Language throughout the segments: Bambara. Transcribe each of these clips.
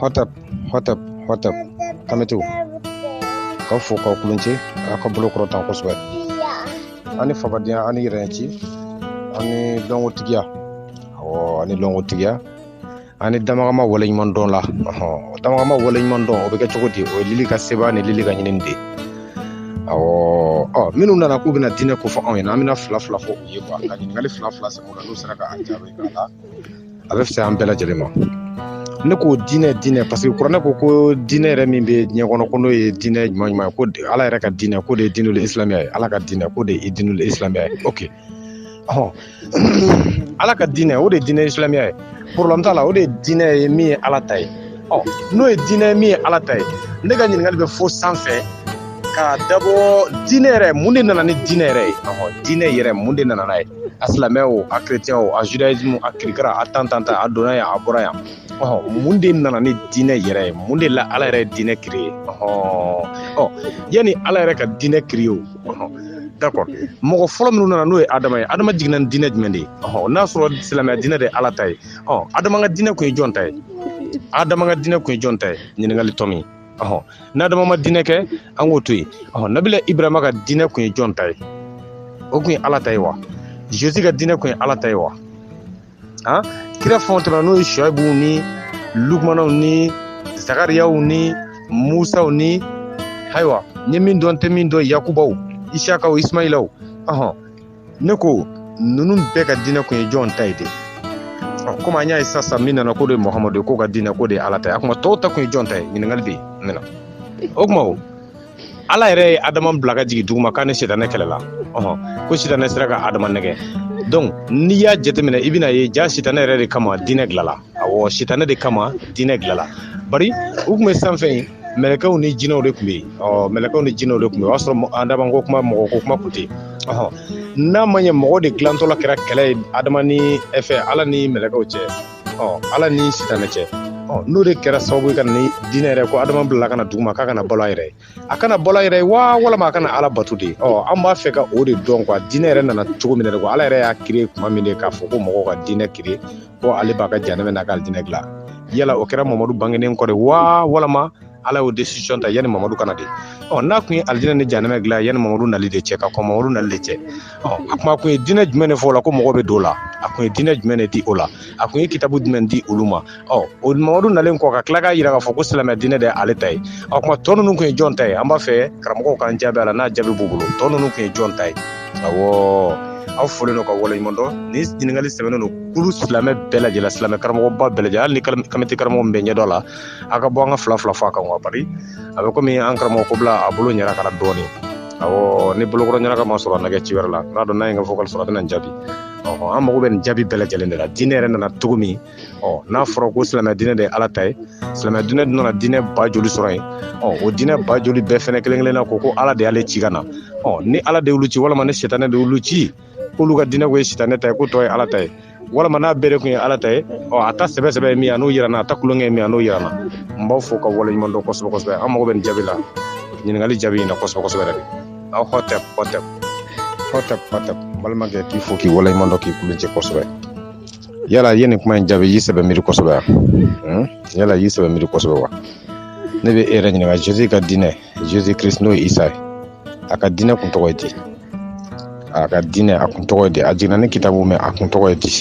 Hotep, hotep, hotep. Kamitu. K'aw fo k'aw kulonce aw ka bolo kɔrɔta kosɛbɛ an ni fabadenya an ni yɛrɛnci an ni dɔnkotigiya awɔ an ni dɔnkotigiya an ni damagama waleɲuman dɔn la o damagama waleɲuman dɔn o bɛ kɛ cogo di o ye lili ka sebaa ni lili ka ɲinini de ye awɔ ɔ minnu nana k'u bɛna diinɛ ko fɔ anw ɲɛna an bɛna fila fila fɔ u ye quoi ka ɲininkali fila fila sɛbɛn o la n'u sera ka an jaabi a la a bɛ fisaya an bɛɛ lajɛlen ma ne ko diinɛ diinɛ parce que kuranɛ ko ko diinɛ yɛrɛ min bɛ diɲɛ kɔnɔ ko n'o ye diinɛ ɲuman ɲuman ye ko ala yɛrɛ ka diinɛ k'o de ye diinul isilamiya ye ala ka diinɛ k'o de ye diinul isilamiya ye ok ɔhɔn ala ka diinɛ o de ye diinɛ isilamiya ye problème t'a la o de ye diinɛ ye min ye ala ta ye ɔ n'o ye diinɛ ye min ye ala ta ye ne ka ɲininkali bɛ fo sanfɛ k'a dabɔ diinɛ yɛrɛ mun de nana ni diinɛ yɛrɛ ye ɔhɔn diinɛ yɛrɛ mun de nana n'a ye a silamɛ o a chrétien o a judaïsme a kirikara a tan tan tan a donna yan a bɔra yan ɔhɔn mun de nana ni diinɛ yɛrɛ ye mun de la ala yɛrɛ ye diinɛ créé ɔhɔn ɔ yanni ala yɛrɛ ka diinɛ créé o ɔhɔn d'accord mɔgɔ fɔlɔ min nana n'o ye adama ye adama jiginna ni diinɛ jumɛn de ye ɔhɔn n'a sɔrɔ silamɛya diinɛ de ye ala ta ye ɔ adama ka diinɛ kun ye jɔn ta ye adama ka diinɛ kun ye jɔn ta ye ɲininkali tɔ min ɔhɔ n'adama ma diinɛ kɛ an k'o to yen ɔhɔ nabila ibrahima ka diinɛ kun ye jɔn ta ye o kun ye ala ta ye wa jésus ka diinɛ kun ye ala ta ye wa han kira fɛn o tɛmɛna n'o ye soyibuw ni lukumanaw ni zakariyaw ni musaw ni ayiwa n ye min dɔn n tɛ min dɔn yakubaw isakaw isimayilaw ɔhɔn ne ko ninnu bɛɛ ka diinɛ kun ye jɔn ta ye de komi an y'a ye sisan sisan min nana k'o de ye muhamadu ye k'o ka diinɛ k'o de ye ala ta ye a kuma tɔw ta kun ye jɔn ta ye ɲininkali bɛ yen ne na o kuma o ala yɛrɛ ye adama bila ka jigin duguma k'a ni sitanɛ kɛlɛla ɔhɔn ko sitanɛ sera ka adama nɛgɛ donc n'i y'a jateminɛ i bɛn'a ye jaa sitanɛ yɛrɛ de kama diinɛ dilala awɔ sitanɛ de kama diinɛ dilala bari u tun bɛ sanfɛ yen mɛlɛkɛw ni jinɛw de tun bɛ yen ɔ mɛlɛkɛw ni jinɛw de tun bɛ yen o y'a sɔrɔ mɔ- adama ko kuma mɔgɔ ko kuma tun tɛ yen ɔhɔn n'a ma ɲɛ mɔgɔ de dilantɔla kɛra kɛlɛ ye adama ni ɛ, fɛ ala ni mɛlɛkɛw cɛ ɔ ala ni sitanɛ cɛ ɔ n'o de kɛra sababu ye ka na ni diinɛ yɛrɛ ko adama bilala ka na duguma k'a ka na balo a yɛrɛ ye a ka na balo a yɛrɛ ye wa walama a ka na ala bato de ɔ an b'a fɛ ka o de dɔn quoi diinɛ yɛrɛ nana cogo min na quoi ala yɛrɛ y'a créé kuma min de k'a fɔ ko mɔgɔw ka diinɛ créé ko ale b'a ka janɛmɛ n'a ka diinɛ dilan yala o kɛra mamadu bangenen kɔ de wa walama ala y'o décision ta yanni mamadu ka na de ɔ n'a kun ye alijinɛ ni janɛmɛ dilan yanni mamadu nali de cɛ ka kɔn mamadu nali de cɛ ɔ a kuma kun ye diinɛ jumɛn de fɔ o la ko mɔgɔ bɛ don o la a kun ye diinɛ jumɛn de di o la a kun ye kitabu jumɛn di olu ma ɔ o mamadu nalen kɔ ka tila k'a jira k'a fɔ ko silamɛ diinɛ de ye ale ta ye ɔ kuma tɔ ninnu kun ye jɔn ta ye an b'a fɛ karamɔgɔw k'an jaabi a la n'a jaabi b'u bolo tɔ ninnu kun ye jɔn ta ye awɔ aw folen don ka waleɲuman dɔn ni ɲininkali sɛbɛnnen don kulu silamɛ bɛɛ lajɛlen silamɛ karamɔgɔba bɛɛ lajɛlen hali ni kamite karamɔgɔ min bɛ ɲɛdɔn la a ka bɔ an ka fila fila fɔ a kan wa bari a bɛ komi an karamɔgɔ ko bila a bolo ɲɛna ka na dɔɔnin awɔ ni bolokɔrɔ ɲɛnaka ma sɔrɔ a nɛgɛ ci wɛrɛ la n'a dɔn n'a ye n ka vocal sɔrɔ a bɛna n jaabi an mago bɛ nin jaabi bɛɛ lajɛlen de la diinɛ yɛrɛ nana cogo min ɔ n'a fɔra ko silamɛ diinɛ de ye ala ta ye silamɛ diinɛ dun nana diinɛ ba joli sɔrɔ yen ɔ o diinɛ ba joli bɛɛ fɛnɛ kelen kelenna ko ko ala de y'ale ci ka na ɔ ni ala de y'olu ci walama ni sitanɛ de y'olu ci k'olu ka diinɛ ko ye sitanɛ ta ye ko tɔ ye ala ta ye walama n'a bɛɛ de kun ye ala ta ye ɔ a ta sɛbɛ sɛbɛ ye min ye a n'o yira n na a ta kulonkɛ ye min ye a n'o yira n na n b'aw fo ka waleɲuman dɔn kosɛbɛ kosɛbɛ an mago bɛ nin jaabi la ɲininkali jaabi in na kosɛbɛ kosɛbɛ yɛrɛ de aw hɔtɛp hɔtɛp hɔtɛp hɔtɛp balimakɛ k'i fo k'i waleɲuman dɔn k'i kulunjɛ kosɛbɛ yala ye nin kuma in jaabi y'i sɛbɛ miiri kosɛbɛ wa hmm? yala y'i sɛbɛ miiri kosɛbɛ wa ne bɛ e yɛrɛ ɲininka jesu ka diinɛ jesu kirist n'o ye isa ye a ka diinɛ kun tɔgɔ ye di a ka diinɛ a kun tɔgɔ ye di a jiginna ni kitabu min a kun tɔgɔ ye di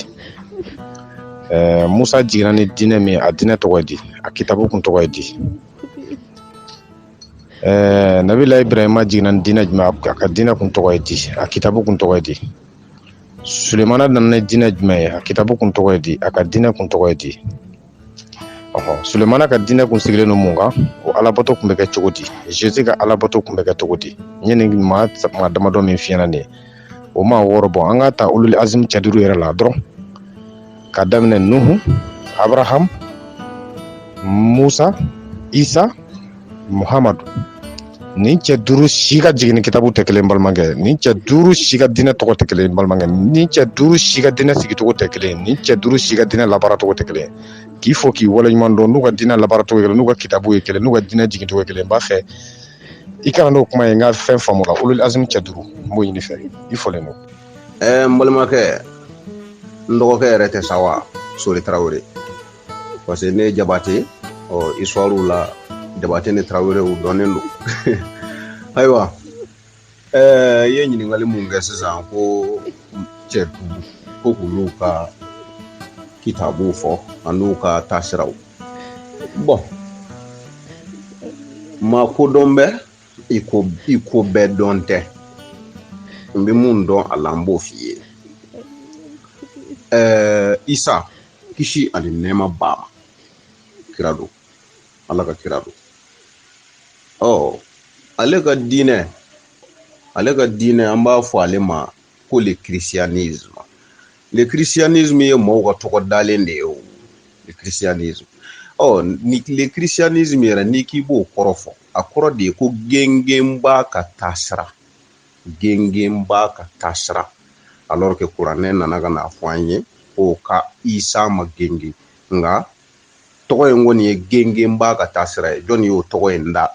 ɛɛ musa jiginna ni diinɛ min a diinɛ tɔgɔ ye di a kitabu kun tɔgɔ ye di ɛɛ nabila ibrahima jiginna ni diinɛ jumɛn a ka diinɛ kun tɔgɔ ye di a kitabu kun tɔgɔ ye di sulemana nana ni diinɛ jumɛn ye a kitabu kun tɔgɔ ye di a ka diinɛ kun tɔgɔ ye di ɔhɔ sulemana ka diinɛ kun sigilen don mun kan o alabato kun bɛ kɛ cogo di jesu ka alabato kun bɛ kɛ cogo di n ye nin maa maa damadɔ min f'i ɲɛna nin ye o maa wɔɔrɔ bɔ an ka ta ulul azimi cɛ duuru yɛrɛ la dɔrɔn ka daminɛ nuhu abraham musa isa muhamadu nin cɛ duuru si ka jiginni kitabu tɛ kelen balimakɛ nin cɛ duuru si ka diinɛ tɔgɔ tɛ kelen balimakɛ nin cɛ duuru si ka diinɛ sigicogo tɛ kelen nin cɛ duuru si ka diinɛ labaaracogo tɛ kelen k'i fo k'i waleɲuman dɔn n'u ka diinɛ labaaracogo ye kelen n'u ka kitabu ye kelen n'u ka diinɛ jigincogo ye kelen n b'a fɛ i ka na n'o kuma ye n ka fɛn faamu la ulul azmi cɛ duuru n b'o ɲini i fɛ i folen don ɛɛ n balimakɛ n dɔgɔkɛ yɛrɛ tɛ sa wa sori tarawele parce que ne ye jabate ɔ histoire la jabate ni tarawele u dɔnnen don ayiwa ɛɛ i ye ɲininkali mun kɛ sisan ko cɛ duuru ko k'olu ka kitabuw fɔ an'u ka taasiraw bon maa kodɔn bɛ i ko i ko bɛɛ dɔn tɛ n bɛ mun dɔn a la n b'o f'i ye ɛɛ isa kisi ani nɛɛma b'a ma kira don ala ka kira don ɔ ale ka diinɛ ale ka diinɛ an b'a fɔ ale ma ko le christianisme le christianisme ye maaw ka tɔgɔ dalen de ye o le christianisme ɔ oh, ni le christianisme yɛrɛ n'i k'i b'o kɔrɔ fɔ a kɔrɔ de ye ko gengenba ka taasira gengenba ka taasira alors que kuranɛ nana ka n'a fɔ an ye ko ka isa ma gengen nka tɔgɔ in kɔni ye gengenba ka taasira ye jɔnni y'o tɔgɔ in da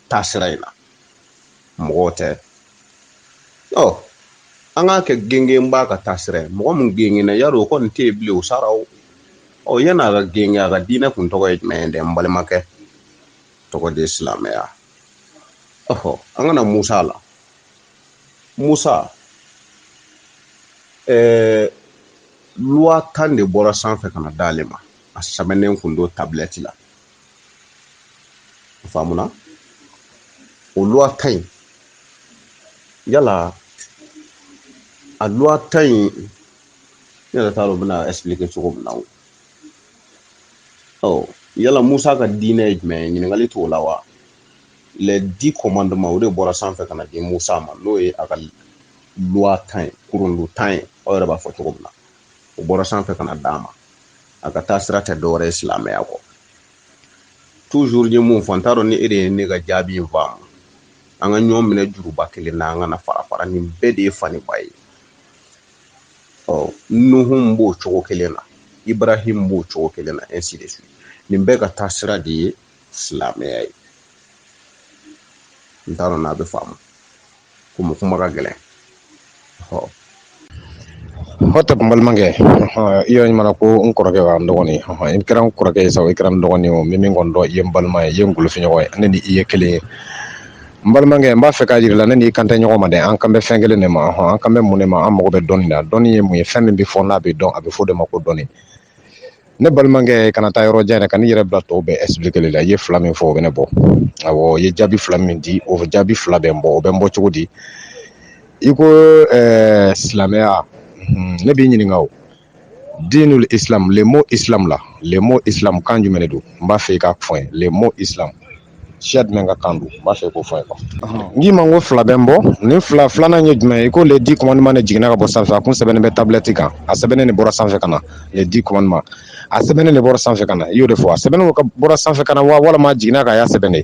taasira in na mɔgɔw tɛ ɔ an k'a kɛ gengenba ka taasira mɔgɔ min gengenna y'a dɔn o kɔni tɛ yen bilen o sara o ɔ yan'a ka gengen a ka diinɛ kun tɔgɔ ye jumɛn ye dɛ n balimakɛ tɔgɔ de ye silamɛya ɔhɔ an kana musa la musa ɛɛ loi tan de bɔra sanfɛ ka na d'ale ma a sɛbɛnnen kun don tablette la faamuna o loi tan in yala a loi tan in ne yɛrɛ t'a dɔn bɛna expliquer cogo min na o ɔ yala musa ka diinɛ ye jumɛn ye ɲininkali t'o la wa les dix commandements o de bɔra sanfɛ ka na di musa ma n'o ye a ka loi tan ye kurundu tan ye aw yɛrɛ b'a fɔ cogo min na o bɔra sanfɛ ka na d'a ma a ka taasira tɛ dɔwɛrɛ ye silamɛya kɔ toujours n ye mun fɔ n t'a dɔn ni e de ye ne ka jaabi in faamu an ka ɲɔgɔn minɛ juruba kelen na an kana fara fara nin bɛɛ de ye faniba ye ɔ nuhun b'o cogo kelen na ibrahim b'o cogo kelen na ainsi de suite nin bɛɛ ka taasira de ye silamɛya ye n t'a dɔn n'a bɛ faamu komi kuma ka gɛlɛn hota n balimakɛ i y'a ɲuman ko n kɔrɔkɛ wa n dɔgɔnin i kɛra n kɔrɔkɛ ye sa i kɛra n dɔgɔnin o min kɔni don i ye n balima ye i ye n golofinɲɔgɔn ye ne ni i ye kelen ye n balimakɛ n b'a fɛ k'a jira la ne n'i kan tɛ ɲɔgɔn ma dɛ an kan bɛ fɛn kelen de ma hɔn an kan bɛ mun de ma an mago bɛ dɔnni na dɔnni ye mun ye fɛn min bɛ fɔ n'a bɛ dɔn a bɛ fɔ de ma ko dɔnni ne balimakɛ kana taa yɔrɔ jan yɛrɛ ka n'i yɛrɛ bila tɔw bɛɛ expliquer li la i ye fila min fɔ o bɛ ne bɔ awɔ i ye jaabi fila min di o jaabi fila bɛ n bɔ o bɛ n bɔ cogo di i ko ɛɛ silamɛya ne b'i ɲininka o diinul islam le mot islam la le mot islam kan jumɛn de don n b'a fɛ i k'a fɔ n ye le mot islam siya jumɛn ka kan don n b'a fɛ i k'o fɔ n ye quoi ɔhɔn n k'i ma n ko fila bɛ n bɔ nin fila filanan ye jumɛn ye i ko les dix commandements de jiginna ka bɔ sanfɛ a kun sɛbɛnnen bɛ tablette kan a sɛbɛnnen de bɔra sanfɛ ka na les dix commandements a sɛbɛnnen de bɔra sanfɛ ka na i y'o de fɔ a sɛbɛnnen bɔra sanfɛ ka na wa walima a jiginna ka y'a sɛbɛn de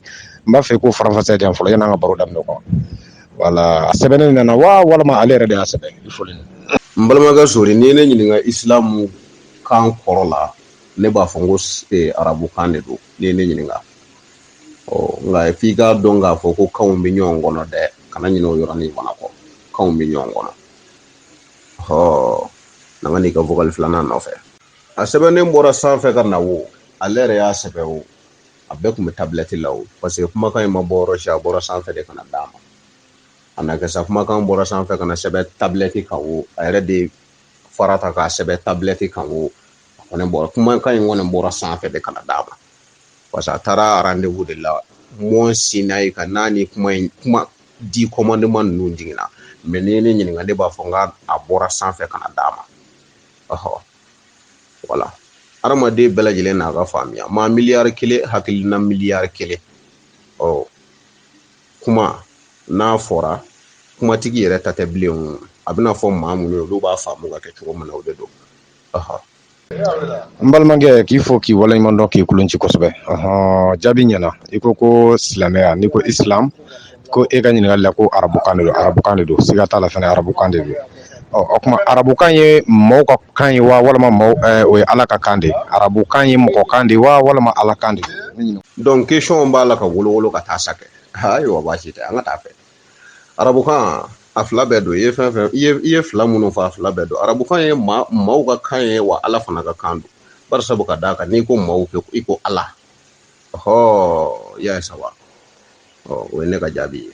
n b'a fɛ i k'o faranfasiya di yan fɔlɔ yan'an ka baro daminɛ quoi voilà a sɛbɛnnen de nana wa walima ale yɛrɛ de y'a sɛbɛn i foli ni n balimakɛ sori n'i ye ne ɲininka isilamu kan kɔrɔ la ne b'a fɔ n ko s- eh, arabukan de don n'i ye ne ɲininka ɔ nka f'i k'a dɔn k'a fɔ ko kanw bɛ ɲɔgɔn kɔnɔ dɛ kana ɲinɛ o yɔrɔnin fana kɔ kanw bɛ ɲɔgɔn kɔnɔ ɔ n'an ka n'i ka vokali filanan nɔfɛ a sɛbɛnnen bɔra sanfɛ ka na wo ale yɛrɛ y'a sɛbɛn o a bɛɛ tun bɛ tabilɛti la o parce que kumakan in ma bɔ yɔrɔ si a bɔra sanfɛ de ka na d'a ma a na kɛ sa kumakan bɔra sanfɛ ka na sɛbɛn tabilɛti kan o a yɛrɛ de fara ta k'a sɛbɛn tabilɛti kan o a kɔni bɔra kumakan in kɔni bɔra sanfɛ de ka na d'a ma parce que a taara rendez-vous de la mont sinaï ka na ni kuma in kuma dix commandements ninnu jiginna mais n'i ye ne ɲininka ne b'a fɔ n k'a bɔra sanfɛ ka na d'a ma ɔhɔ voilà hadamaden bɛɛ lajɛlen n'a ka faamuya maa miliyari kelen hakilina miliyari kelen ɔ kuma n'a fɔra kumatigi yɛrɛ ta tɛ bilen a bɛna fɔ maa minnu ye olu b'a faamu ka kɛ cogo min na o de don n balimakɛ k'i fo k'i waleɲuman dɔn k'i kolon ci kosɛbɛ ɔhɔn jaabi ɲɛna i ko ko silamɛya n'i ko islam ko e ka ɲininkali la ko arabukan de don arabukan de don siga t'a la fana arabukan de don ɔ o tuma arabukan ye mɔgɔw ka kan ye wa walima mɔgɔw ɛɛ o ye ala ka kan de ye arabukan ye mɔgɔ kan de ye wa walima ala kan de don donc question b'a la ka wolowolo ka taa sa kɛ ayiwa baasi tɛ an ka taa fɛ arabukan a fila bɛɛ don i ye fɛn fɛn i ye i ye fila minnu fɔ a fila bɛɛ don arabukan ye maa maaw ka kan ye wa ala fana ka kan don bari sabu ka d'a kan n'i ko maaw kɛ i ko ala ɔhɔɔ y'a ye saba ɔ o ye ne ka jaabi ye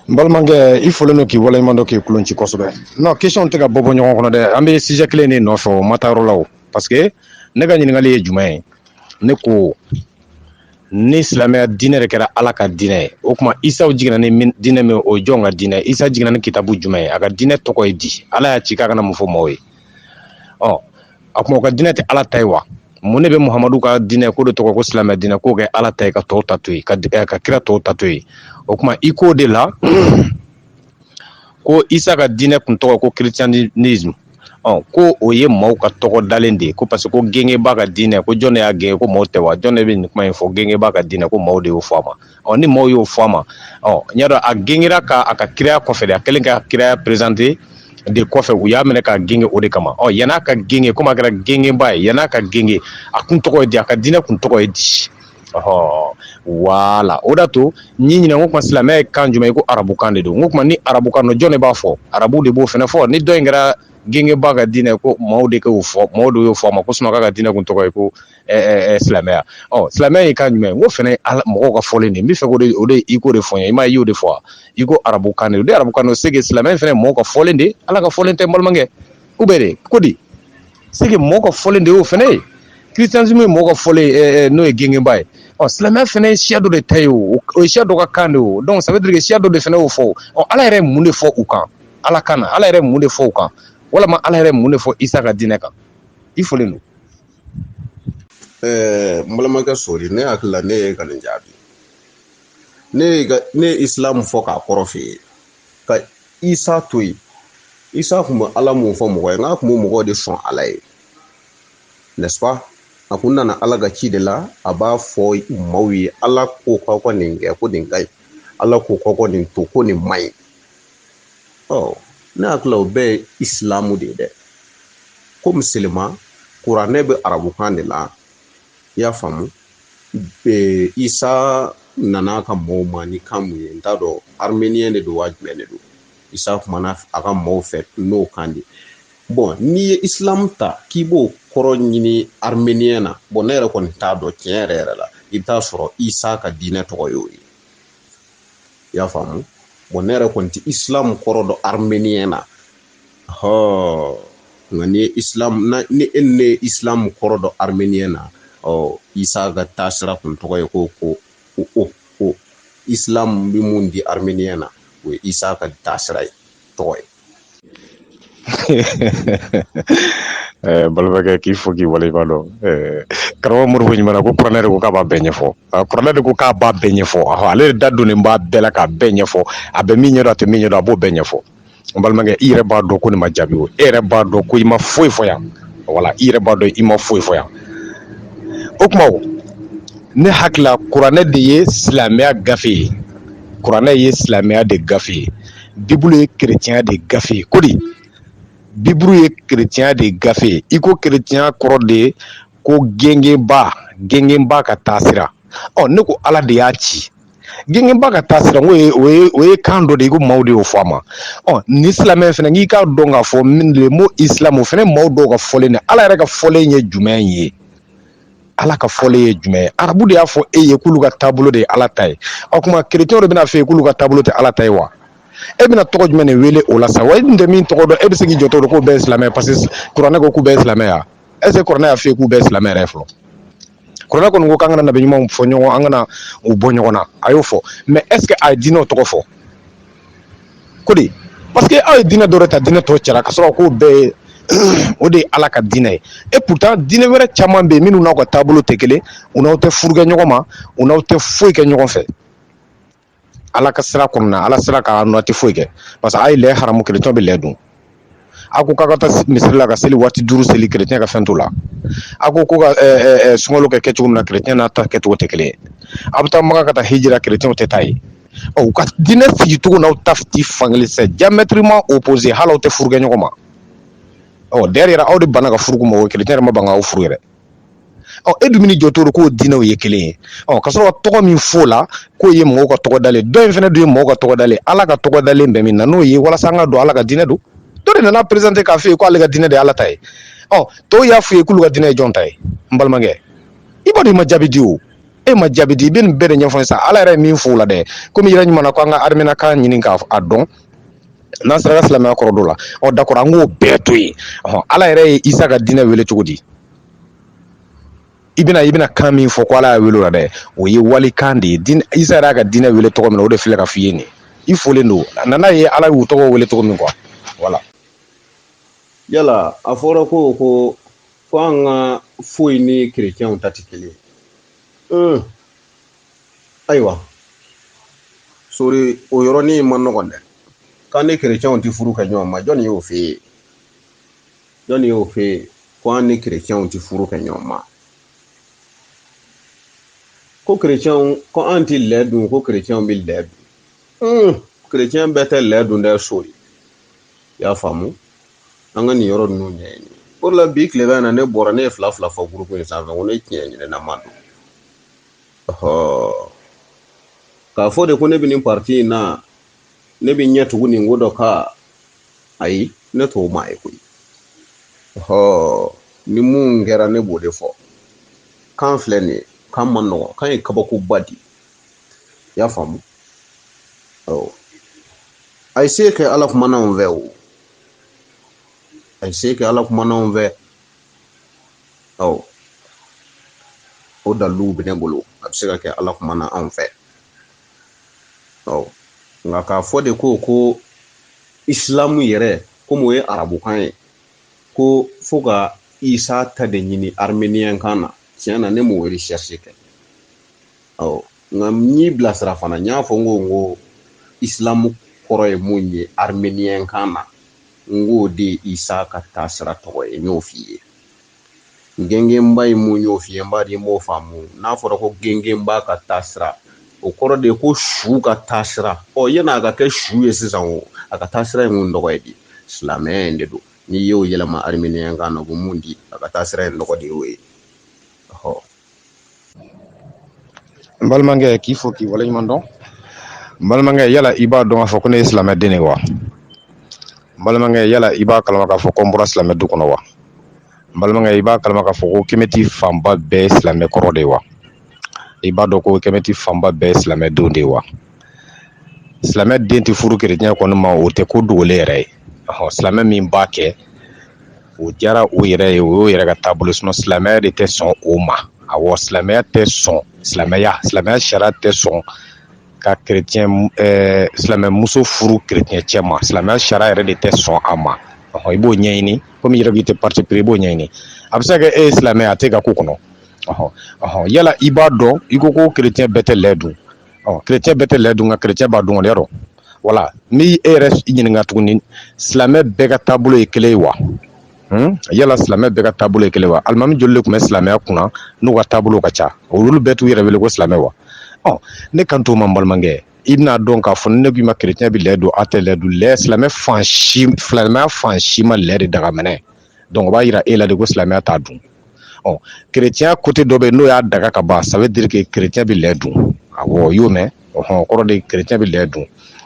n balimakɛ i folen don k'i waleɲuman dɔn k'i kulon ci kosɛbɛ non question tɛ ka bɔ bɔ ɲɔgɔn kɔnɔ dɛ an bɛ sujet kelen de nɔfɛ o ma taa yɔrɔ la o parce que ne ka ɲininkali ye jumɛn ye ne ko ni silamɛya diinɛ de kɛra ala ka diinɛ ye o tuma isaw jiginna ni diinɛ min o jɔn ka diinɛ isa jiginna ni kitabu jumɛn ye a ka diinɛ tɔgɔ ye di ala y'a ci k'a ka na mun fɔ maaw ye ɔ a tuma o ka diinɛ tɛ ala ta ye wa mun de bɛ muhamadu ka diinɛ k'o de tɔgɔ ko silamɛ diinɛ k'o kɛ ala ta ye ka tɔw ta to yen ka ka kira tɔw ta to yen o tuma i k'o de la ko isa ka diinɛ tun tɔgɔ ko christianisme ko o ye maaw ka tɔgɔ dalen de ye ko parce que ko gengebaga ka diinɛ ko jɔn y'a genge ko maaw tɛ wa jɔn de bɛ nin kuma in fɔ gengebaga ka diinɛ ko maaw de y'o fɔ a ma ɔ ni maaw y'o fɔ a ma ɔ n y'a dɔn a gengera a ka kiraya kɔfɛ a kɛlen ka kiraya présenter de kɔfɛ u y'a minɛ k'a genge o de kama ɔ yann'a ka genge komi a kɛra gengebaga ye yann'a ka genge a tun tɔgɔ ye di a ka diinɛ tun tɔgɔ ye di Ɔ wala o d'a to n y'i ɲininka ko kuma silamɛya ye kan jumɛn ye ko arabukan de don o tuma ni arabukan jɔn de b'a fɔ arabu de b'o fana fɔ ni dɔ in kɛra gengebaga ka diinɛ ko maaw de y'o fɔ maaw de y'o fɔ a ma ko isa ka diinɛ tun tɔgɔ ye ko silamɛya ɔ silamɛya ye kan jumɛn k'o fana mɔgɔw ka fɔlen n b'a fɛ o de o de i k'o de fɔ n ye i ma y'o de fɔ i ko arabukan de arabukan c'est que silamɛya fana mɔgɔw ka fɔlen de ala ka fɔlen tɛ balimakɛ ou bien ko di c'est que mɔgɔ ka fɔlen de y'o fɛnɛ ye christianisme ye mɔgɔ ka fɔlen eh, n'o ye gengenba ye ɔ silamɛya fɛnɛ ye siya dɔ de ta ye o o ye siya dɔ ka kan de o donc ça veut dire que siya dɔ de fɛnɛ y'o fɔ ɔ ala yɛrɛ ye mun de fɔ u kan ala kan na ala yɛrɛ ye mun de fɔ u kan walama ala yɛrɛ ye mun de fɔ isa ka diinɛ kan i fɔlen don ɛɛ n balimakɛ sori ne hakili la ne ye ka nin jaabi ne ye ne ye isilamu fɔ k'a kɔrɔ f'i ye ka isa to yen isa kun bɛ ala mun fɔ mɔgɔ ye n k'a kun bɛ mɔgɔw de sɔn ala ye n'est-ce pas a kun nana ala ka ci de la a b'a fɔ maaw ye ala ko k'aw ka nin kɛ ko nin ka ɲi ala ko k'aw ka nin to ko nin man ɲi ɔ ne hakili la o bɛɛ ye isilamu de ye dɛ komi seulement kuranɛ bɛ arabukan de la i y'a faamu Ee isa nana a ka maaw ma ni kan mun ye n t'a dɔn arménien de don wa jumɛn de don isa kumana a ka maaw fɛ n'o kan de bɔn n'i ye islam ta k'i b'o kɔrɔ ɲini arménien na bɔn ne yɛrɛ kɔni t'a dɔn tiɲɛ yɛrɛ yɛrɛ la i bɛ taa sɔrɔ isa ka diinɛ tɔgɔ y'o ye i y'a faamu bɔn ne yɛrɛ kɔni tɛ islam kɔrɔ dɔn arménien na hɔ nka ni islam ni ne ye islam kɔrɔ dɔn arménien na ɔ isa ka taasira kun tɔgɔ ye ko ko o o islam bɛ mun di arménien na o ye isa ka taasira ye tɔgɔ ye eh, balimakɛ k'i fo k'i waleɲuman dɔn eh, karamɔgɔ mori ko ɲuman ko kuranɛ de ko k'a b'a bɛɛ ɲɛfɔ ah, kuranɛ de ko k'a b'a bɛɛ ɲɛfɔ ale de da donnen b'a bɛɛ la k'a bɛɛ ɲɛfɔ a bɛ min ɲɛdɔn a tɛ min ɲɛdɔn a b'o bɛɛ ɲɛfɔ n balimakɛ i yɛrɛ b'a dɔn ko nin ma jaabi o e yɛrɛ b'a dɔn ko i ma foyi fɔ yan wala i yɛrɛ b'a dɔn i ma foyi fɔ yan o tuma ne hakili la kuranɛ de ye silamɛya gafe ye kuranɛ ye silamɛya de gafe ye bibulu ye kerecɛnya de gafe ye ko di bibulu ye kerecɛnya de gafe ye i ko kerecɛnya kɔrɔ de ye ko gengenba gengenba ka taasira ɔ ne ko ala de y'a ci gengenba ka taasira o ye kan dɔ de ye ko maaw de y'o fɔ a ma ɔ ni silamɛ fɛnɛ k'i k'a dɔn k'a fɔ le mot islam o fɛnɛ maaw dɔw ka fɔlen de ala yɛrɛ ka fɔlen ye jumɛn ye ala ka fɔlen ye jumɛn ye arabu de y'a fɔ e ye k'olu ka taabolo de ye ala ta ye o tuma kerecɛn de bɛna fɔ e ye k'olu ka taabolo tɛ ala ta ye wa e bɛna tɔgɔ jumɛn de wele o la sa wa e tɛ min tɔgɔ dɔn e bɛ se k'i jɔ dɔrɔn k'u bɛɛ silamɛ parce que kuranɛ ko k'u bɛɛ silamɛya est-ce que kuranɛ y'a fɔ e k'u bɛɛ silamɛ yɛrɛ fɔlɔ kuranɛ kɔni ko k'an kana nabi ɲumanw fɔ ɲɔgɔn an kana u bɔ ɲɔgɔn na a y'o fɔ mais est-ce que a ye diinɛw tɔgɔ fɔ ko di parce que aw ye diinɛ dɔ de ta diinɛ tɔw cɛla ka sɔrɔ k'o bɛɛ ye o de ye ala ka diinɛ ye et pourtant diinɛ wɛrɛ caman bɛ yen minnu n'aw ka taabolo tɛ kelen u n'aw tɛ furu kɛ ɲɔgɔn ma u n'aw tɛ foyi kɛ ɲɔgɔn fɛ ala ka sira kɔnɔna na ala sira kan n'aw tɛ foyi kɛ parce que a ye lɛ haramu kerecɛn bɛ lɛ dun a ko k'a ka taa misiri la ka seli waati duuru seli kerecɛn ka fɛn t'o la a ko ko ka sunkalo kɛ kɛcogo min na kerecɛn n'a ta kɛcogo tɛ kelen ye a bɛ taa maka ka taa hiji la kerecɛnw tɛ taa yen u ka diinɛ sigi cogo n'aw ta ti fankelen c'est diamétralement opposé hali aw tɛ furu kɛ ɲɔgɔn ma ɔ derrière aw de banna ka furu k'u ma o kerecɛn yɛrɛ ma ban k'aw furu yɛrɛ ɔ e dun bɛ jɔ to ko diinɛw ye kelen ye ɔ ka sɔrɔ tɔgɔ min f'o la k'o ye mɔgɔw ka tɔgɔ dalen dɔ in fana dun ye mɔgɔw ka tɔgɔ dalen ala ka tɔgɔ dalen bɛ min na n'o ye walasa an k'a dɔn ala ka diinɛ don dɔ de nana présenter k'a fɔ ye k'ale ka diinɛ de ye ala ta ye ɔ tɔw y'a f'u ye k'olu ka diinɛ ye jɔn ta ye n balimakɛ i b'a dɔn i ma jaabi di o e ma jaabi di i bɛ nin bɛɛ de ɲɛfɔ sa ala yɛrɛ ye min f'o la dɛ komi yɛrɛ ɲuman na ko an ka armeniyɛn kan ɲini k'a dɔn N'an sera ka silamɛya kɔrɔ dɔn o la ɔ d'accord an k'o bɛɛ to yen ala yɛrɛ ye isa ka diinɛ wele cogo di i bɛna i bɛna kan min fɔ ko ala y'a wele la dɛ o ye walikan de ye isa yɛrɛ y'a ka diinɛ wele tɔgɔ min na o de filɛ ka f' i ye nin i folen don a nana ye ala y'u tɔgɔ wele cogo min quoi voilà yala a fɔra ko ko ko an ka foyi ni kerecɛnw ta tɛ kelen ye ayiwa sori o yɔrɔnin man nɔgɔn dɛ k'an ni kerecɛnw tɛ furu kɛ ɲɔgɔn ma jɔnni y'o f'e ye jɔnni y'o f'e ye ko an ni kerecɛnw tɛ furu kɛ ɲɔgɔn ma ko kerecɛnw ko an tɛ lɛ dun ko kerecɛnw bɛ lɛ dun hmm, kerecɛn bɛɛ tɛ lɛ dun dɛ sori i y'a faamu an ka nin yɔrɔ ninnu ɲɛɲini o de la bi tilefɛ na ne bɔra ne ye fila fila fɔ gurupu in sanfɛ ko ne tiɲɛ ɲinina maa don k'a fɔ de ko ne bɛ nin parti in na ne bɛ ɲɛ tugu nin ko dɔ kan ayi ne t'o maa ye koyi ni mun kɛra ne b'o de fɔ kan filɛ nin ye kan man nɔgɔn kan ye kabakoba di i y'a faamu a ye se kɛ ala kumana anw fɛ o a ye se kɛ ala kumana anw fɛ ɔ o daliluw bɛ ne bolo a bɛ se ka kɛ ala kumana anw fɛ ɔ nka k'a fɔ de ko ko isilamu yɛrɛ komi o ye arabukan ye ko fo ka isa ta de ɲini armeniyɛn kan na tiɲɛ na ne m'o recherche kɛ ɔ nka n y'i bilasira fana n y'a fɔ n ko n ko isilamu kɔrɔ ye mun ye armeniyɛn kan na n k'o de ye isa ka taasira tɔgɔ ye n y'o f'i ye gengenba ye mun y'o f'i ye n b'a di n b'o faamu n'a fɔra ko gengenba ka taasira o kɔrɔ de ye ko su ka taasira ɔ yann'a ka kɛ su ye sisan o a ka taasira ye mun tɔgɔ ye di silamɛya in de don n'i y'o yɛlɛma armeniyɛn kan na o bɛ mun di a ka taasira ye tɔgɔ de y'o ye n balimakɛ k'i fo k'i waleɲuman dɔn n balimakɛ yala i b'a dɔn k'a fɔ ko ne ye silamɛden de ye wa n balimakɛ yala i b'a kalama k'a fɔ ko n bɔra silamɛ du kɔnɔ wa n balimakɛ i b'a kalama k'a fɔ ko kɛmɛti fanba bɛɛ ye silamɛ kɔrɔ de ye wa i b'a dɔn ko kɛmɛti fanba bɛɛ ye silamɛdenw de ye wa silamɛ den tɛ furu kerecɛn kɔni ma o tɛ ko dogolen yɛrɛ ye ɔhɔ silamɛ min b'a kɛ o diyara o yɛrɛ ye o y'o yɛrɛ ka taabolo sinon silamɛya de tɛ sɔn o ma awɔ silamɛya tɛ sɔn silamɛya silamɛya sariya tɛ sɔn ka kec silamɛmuso furu kerecɛn cɛ ma silamɛya sariya yɛrɛ de tɛ sɔn a ma i b'o ɲɛɲini komi i yɛrɛ k'i tɛ parti pris i b'o ɲɛɲini a bɛ se ka kɛ e ye silamɛya a tɛ ka ko kɔnɔ yala i b'a dɔn i ko ko kerecɛn bɛɛ tɛ lɛ dun ɔ kerecɛn bɛɛ tɛ lɛ dun nka kerecɛn b'a dun yɔrɔ voilà n bɛ e yɛrɛ ɲininka tuguni silamɛ bɛɛ ka taabolo ye kelen ye wa hmm? yala silamɛ bɛɛ ka taabolo ye kelen wa alimami joli de tun bɛ silamɛya kunna n'u ka taabolo ka ca olu bɛɛ t'u yɛrɛ wele ko silamɛ wa ɔ ne kan t'o ma n balimakɛ i bɛn'a dɔn k'a fɔ ne k'i ma kerecɛn bɛ lɛ dun a tɛ lɛ dun lɛ silamɛ fan si silamɛya fan si ma lɛ de daga minɛ donc o b'a yira e la de ko silamɛya t'a dun ɔ kerecɛnya côté dɔ bɛ n'o y'a daga ka ban ça veut dire que kerecɛn bɛ lɛ dun aw y'o mɛn o kɔrɔ de kerecɛn bɛ lɛ dun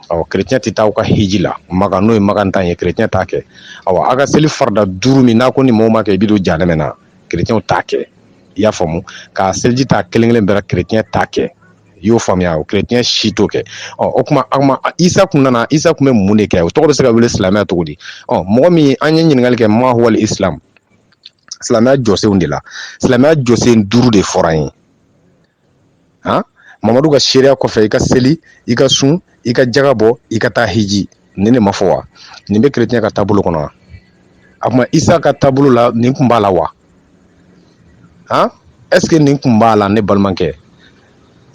ɔ kerecɛn tɛ taa aw ka hiji la ma n'o ye makantaa ye kerecɛn t'a kɛ aw aw ka seli farida duuru min n'aw ko ni mɔgɔ m'a kɛ i bɛ don jahanɛmɛ na kerecɛn t'a kɛ i y'a faamu ka seliji ta kelenkelen bɛɛ kerecɛn t'a kɛ i y'o faamuya o chrétien si t'o kɛ ɔ o kuma an ma Isa kun nana Isa kun bɛ mun de kɛ o tɔgɔ bɛ se ka wele silamɛya cogo di ɔ mɔgɔ min an ye ɲininkali kɛ ma huwal islam silamɛya jɔsenw de la silamɛya jɔsen duuru de fɔra an ye han Mamadu ka seereya kɔfɛ i ka seli i ka sun i ka jaga bɔ i ka taa hiji nin de ma fɔ wa nin bɛ kerecɛn ka taabolo kɔnɔ wa a kuma isa ka taabolo la nin kun b'a la wa han est-ce que nin kun b'a la ne balimakɛ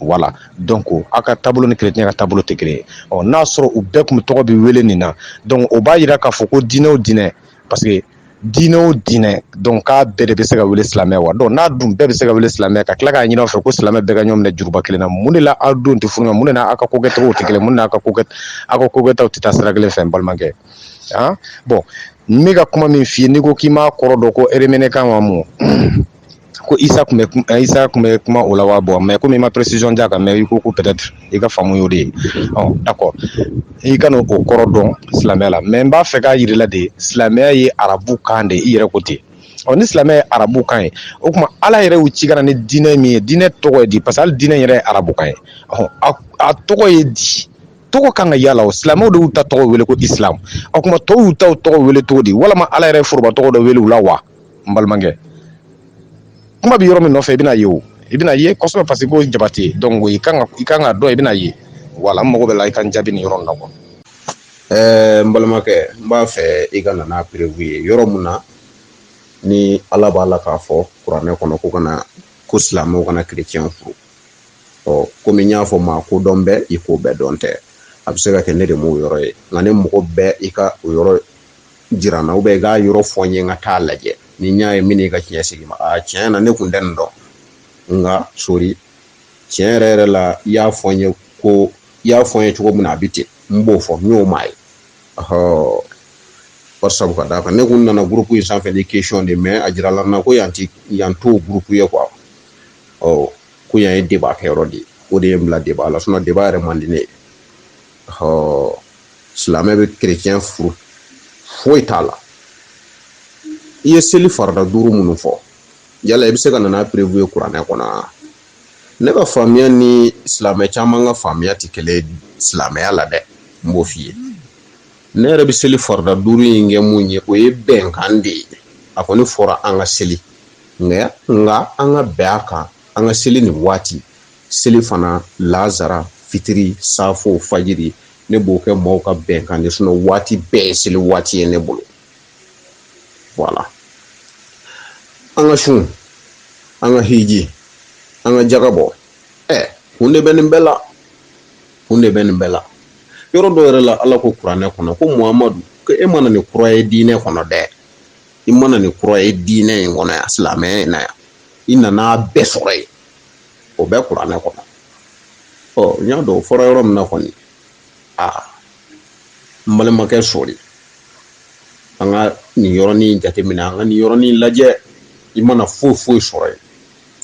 voilà donc aw ka taabolo ni kerecɛn ka taabolo tɛ kelen ye ɔ n'a sɔrɔ u bɛɛ kun bɛ tɔgɔ bɛ wele nin na donc o b'a yira k'a fɔ ko diinɛ o diinɛ parce que diinɛ o diinɛ donc a bɛɛ de bɛ se ka wele silamɛ wa donc n'a dun bɛɛ bɛ se ka wele silamɛ ka tila k'a ɲini aw fɛ ko silamɛ bɛɛ ka ɲɔgɔn minɛ juruba kelen na mun de la aw denw tɛ furu ɲɔgɔn mun de la aw ka kokɛcogow tɛ kelen mun de la aw ka ko aw ka kokɛtaw tɛ taa sira kelen fɛ n balimakɛ bon n bɛ ka kuma min f'i ye n'i ko k'i m'a kɔrɔ dɔn ko araméen kan wa mun ko isa kun isa kun bɛ kuma o la wa bon mais komi i ma précision d'a kan mais i ko ko peut-être i ka faamu y'o de ye d'accord i ka o kɔrɔ dɔn silamɛya la mais n b'a fɛ k'a yir'i la de silamɛya ye arabu kan de i yɛrɛ ko ten ɔ ni silamɛ ye arabu kan ye o kuma ala yɛrɛ y'u ci ka na ni diinɛ min ye diinɛ tɔgɔ ye di parce que diinɛ yɛrɛ ye arabu kan ye a tɔgɔ ye di tɔgɔ kan ka yala o silamɛw de y'u ta tɔgɔ wele ko islam o kuma tɔw y'u ta tɔgɔ wele cogo di walima ala yɛrɛ ye foroba tɔgɔ dɔ wele la wa n balimakɛ kuma bɛ yɔrɔ min nɔfɛ i bɛna ye o i bɛna ye kosɛbɛ parce que ko jabate donc i kan ka i kan ka dɔn i bɛna ye wala n mago b'a la i ka n jaabi nin yɔrɔ in na kuwa ɛɛ n balimakɛ n b'a fɛ i ka na n'a perewu ye yɔrɔ min na ni ala b'a la k'a fɔ kuranɛ kɔnɔ ko kana ko silamɛw kana kerecɛnw furu ɔ komi n y'a fɔ maa ko dɔn bɛ i ko bɛɛ dɔn tɛ a bɛ se ka kɛ ne de m'o yɔrɔ ye nka ne mago bɛ i ka o yɔrɔ jira n na i k'a yɔrɔ fɔ n ye n ka taa lajɛ ni n y'a ye n b'i ka tiɲɛ segin i ma a tiɲɛ na ne kun tɛ nin dɔn nka sori tiɲɛ yɛrɛ yɛrɛ la i y'a fɔ n ye ko i y'a fɔ n ye cogo min na a bɛ ten n b'o fɔ n y'o maa ye ɔhɔ wala sabu ka d'a kan ne kun nana gurupu in sanfɛ ni kɛsiyɔn de mɛ a jirala n na ko yan ti yan t'o gurupu ye kuwa ɔ ko yan ye deba kɛyɔrɔ de ye o de ye n bila deba la sinɔn deba yɛrɛ man di ne ye ɔhɔ silamɛ bɛ kerecɛn furu foyi t'a la i ye seli farida duuru minnu fɔ yala i bɛ se ka na n'a perewu ye kuranɛ kɔnɔ ne ka faamuya ni silamɛ caman ka faamuya tɛ kelen silamɛya la dɛ n b'o f'i ye ne yɛrɛ bɛ seli farida duuru in kɛ mun ye o ye bɛnkan de ye a kɔni fɔra an ka seli nka nka an ka bɛn a kan an ka seli nin waati selifana lazara fitiri safo fajiri ne b'o kɛ maaw ka bɛnkan de sinɔn waati bɛɛ ye seli waati ye ne bolo wala an ka sun an ka hiji an ka jaga bɔ ɛ kun de bɛ nin bɛɛ la kun de bɛ nin bɛɛ la yɔrɔ dɔ yɛrɛ la ala ko kuranɛ kɔnɔ ko mamadu ko e mana nin kura ye diinɛ kɔnɔ dɛ i mana nin kura ye diinɛ in kɔnɔ yan silamɛya in na yan i nana bɛɛ sɔrɔ yen o bɛ kuranɛ kɔnɔ ɔ n y'a dɔn o fɔra yɔrɔ min na kɔni aa n balimakɛ sori an ka nin yɔrɔnin jateminɛ an ka nin yɔrɔnin lajɛ i mana foyi foyi sɔrɔ yen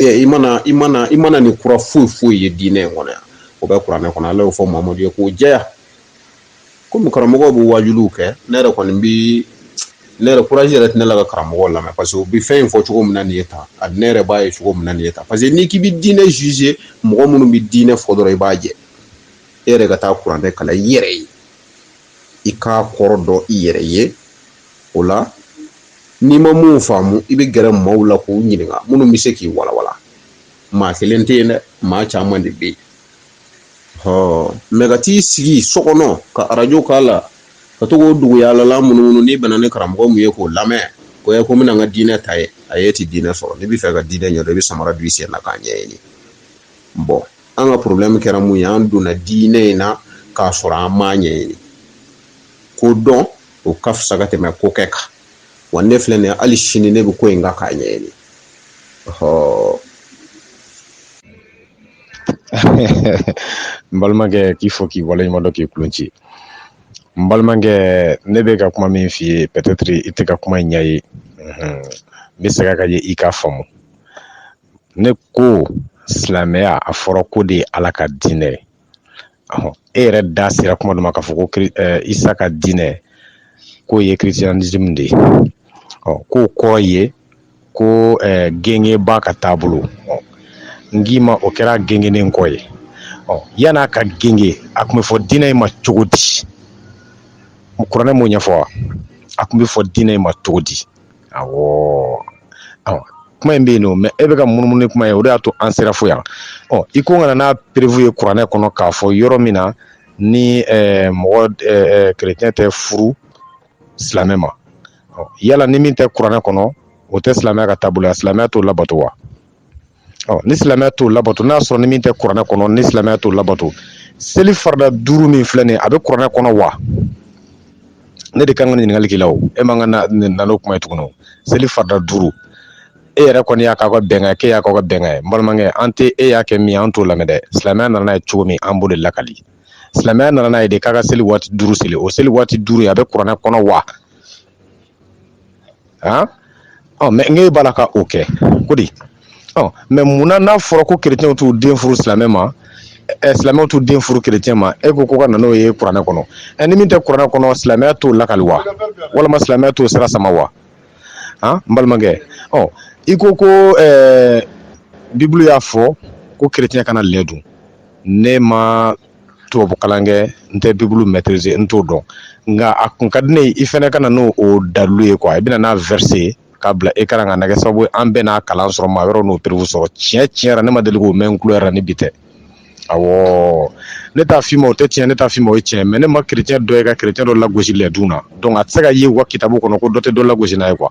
ee i mana i mana i mana nin kura foyi foyi ye diinɛ in kɔnɔ yan o bɛ kuranɛ kɔnɔ ala y'o fɔ mamadu ye k'o jɛya komi karamɔgɔw bɛ wajuliw kɛ ne yɛrɛ kɔni bi ne yɛrɛ kuraji yɛrɛ tɛ ne la ka karamɔgɔw lamɛn parce que u bɛ fɛn in fɔ cogo min na nin ye tan a ne yɛrɛ b'a ye cogo min na nin ye tan parce que n'i k'i bɛ diinɛ juge mɔgɔ minnu bɛ diinɛ fɔ dɔrɔn i b'a jɛ e yɛrɛ ka taa kuranɛ kalan i yɛrɛ ye i k'a kɔrɔ dɔn i yɛrɛ ye o la n'i ma mun faamu i bɛ gɛrɛ maaw la k'u ɲininka minnu bɛ se k'i walawala maa kelen tɛ yen dɛ maa caman de bɛ yen mɛ ka t'i sigi so kɔnɔ ka arajo k'a la ka to k'o duguyalala munumunu n'i bɛnna ni karamɔgɔ min ye k'o lamɛn ko n bɛna n ka diinɛ ta ye ayi i tɛ diinɛ sɔrɔ n'i b'a fɛ ka diinɛ ɲɛdɔn i bɛ samara don i sen na k'a ɲɛɲini bɔn an ka porobilɛmu kɛra mun ye an donna diinɛ in na k'a sɔrɔ an m'a ɲɛɲini ko dɔn o ka fisa ka tɛmɛ ko kɛ kan wa ne filɛ nin ye hali sini ne bɛ ko in kan k'a ɲɛɲini n balimakɛ k'i fo k'i waleɲuman dɔn k'i kulun ci n balimakɛ ne bɛ ka kuma min f'i ye pɛtɛtiri i tɛ ka kuma in ɲɛ ye n bɛ segin a kan i k'a faamu ne ko silamɛya a fɔra k'o de ye ala ka diinɛ ye e yɛrɛ da sera kuma dɔ ma k'a fɔ ko isa ka diinɛ k'o ye kirisitiyanism de ye k'o kɔrɔ ye ko gengeba ka taabolo n k'i ma o kɛra gengenen kɔ ye ɔ yan'a ka genge a tun bɛ fɔ diinɛ in ma cogo di kuranɛ m'o ɲɛfɔ wa a tun bɛ fɔ diinɛ in ma cogo di awɔ kuma in bɛ yen nɔ mɛ e bɛ ka munumunu ni kuma ye o de y'a to an sera fo yan ɔ i ko n ka na n'a perefu ye kuranɛ kɔnɔ k'a fɔ yɔrɔ min na ni mɔgɔ kerecɛn tɛ furu silamɛ ma yala ni min tɛ kuranɛ kɔnɔ o tɛ silamɛya ka taabolo ye silamɛya t'o labato wa ni silamɛya t'o labato n'a sɔrɔ ni min tɛ kuranɛ kɔnɔ ni silamɛya t'o labato seli farida duuru min filɛ nin ye a bɛ kuranɛ kɔnɔ wa ne de kan ka ɲininkali k'i la o e man ka na nin na n'o kuma ye tuguni o seli farida duuru e yɛrɛ kɔni y'a k'aw ka bɛnkan ye k'e y'a k'aw ka bɛnkan ye n balimakɛ an tɛ e y'a kɛ min ye an t'o lamɛn dɛ silamɛya nana n'a ye cogo min an b'o de lakali silamɛya nana n'a ye de k'a ka seli waati duuru seli o seli waati duuru in a bɛ kuranɛ kɔnɔ wa han ɔ mɛ n'e b'a la ka o kɛ ko di ɔ mɛ munna n'a fɔra ko kerecɛnw t'u den furu silamɛ ma ɛ silamɛw t'u den furu kerecɛn ma e ko ko ka na n'o ye kuranɛ kɔnɔ ɛ ni min tɛ kuranɛ kɔnɔ silamɛya t'o lakali wa walima silamɛya t'o sira sama wa han n balimakɛ ɔ i ko ko ɛɛ bibulu y'a fɔ ko kerecɛn kana lɛ dun ne ma tubabu kalan kɛ n tɛ bibulu mɛtirize n t'o dɔn nka a kun ka di ne ye i fana ka na n'o o dalilu ye kuwa i bɛna n'a vɛrise k'a bila ekaran kan a na kɛ sababu ye an bɛɛ n'a kalan sɔrɔ maa wɛrɛw n'o perefu sɔrɔ tiɲɛ tiɲɛ yɛrɛ ne ma deli k'o mɛn n tulo yɛrɛ ni bi tɛ awɔ ne t'a f'i ma o tɛ tiɲɛ ne t'a f'i ma o ye tiɲɛ mɛ ne ma kerecɛn dɔ ye ka kerecɛn dɔ lagosi lɛdun na donc a tɛ se ka ye u ka kitabu kɔnɔ ko dɔ tɛ dɔ lagosi n'a ye kuwa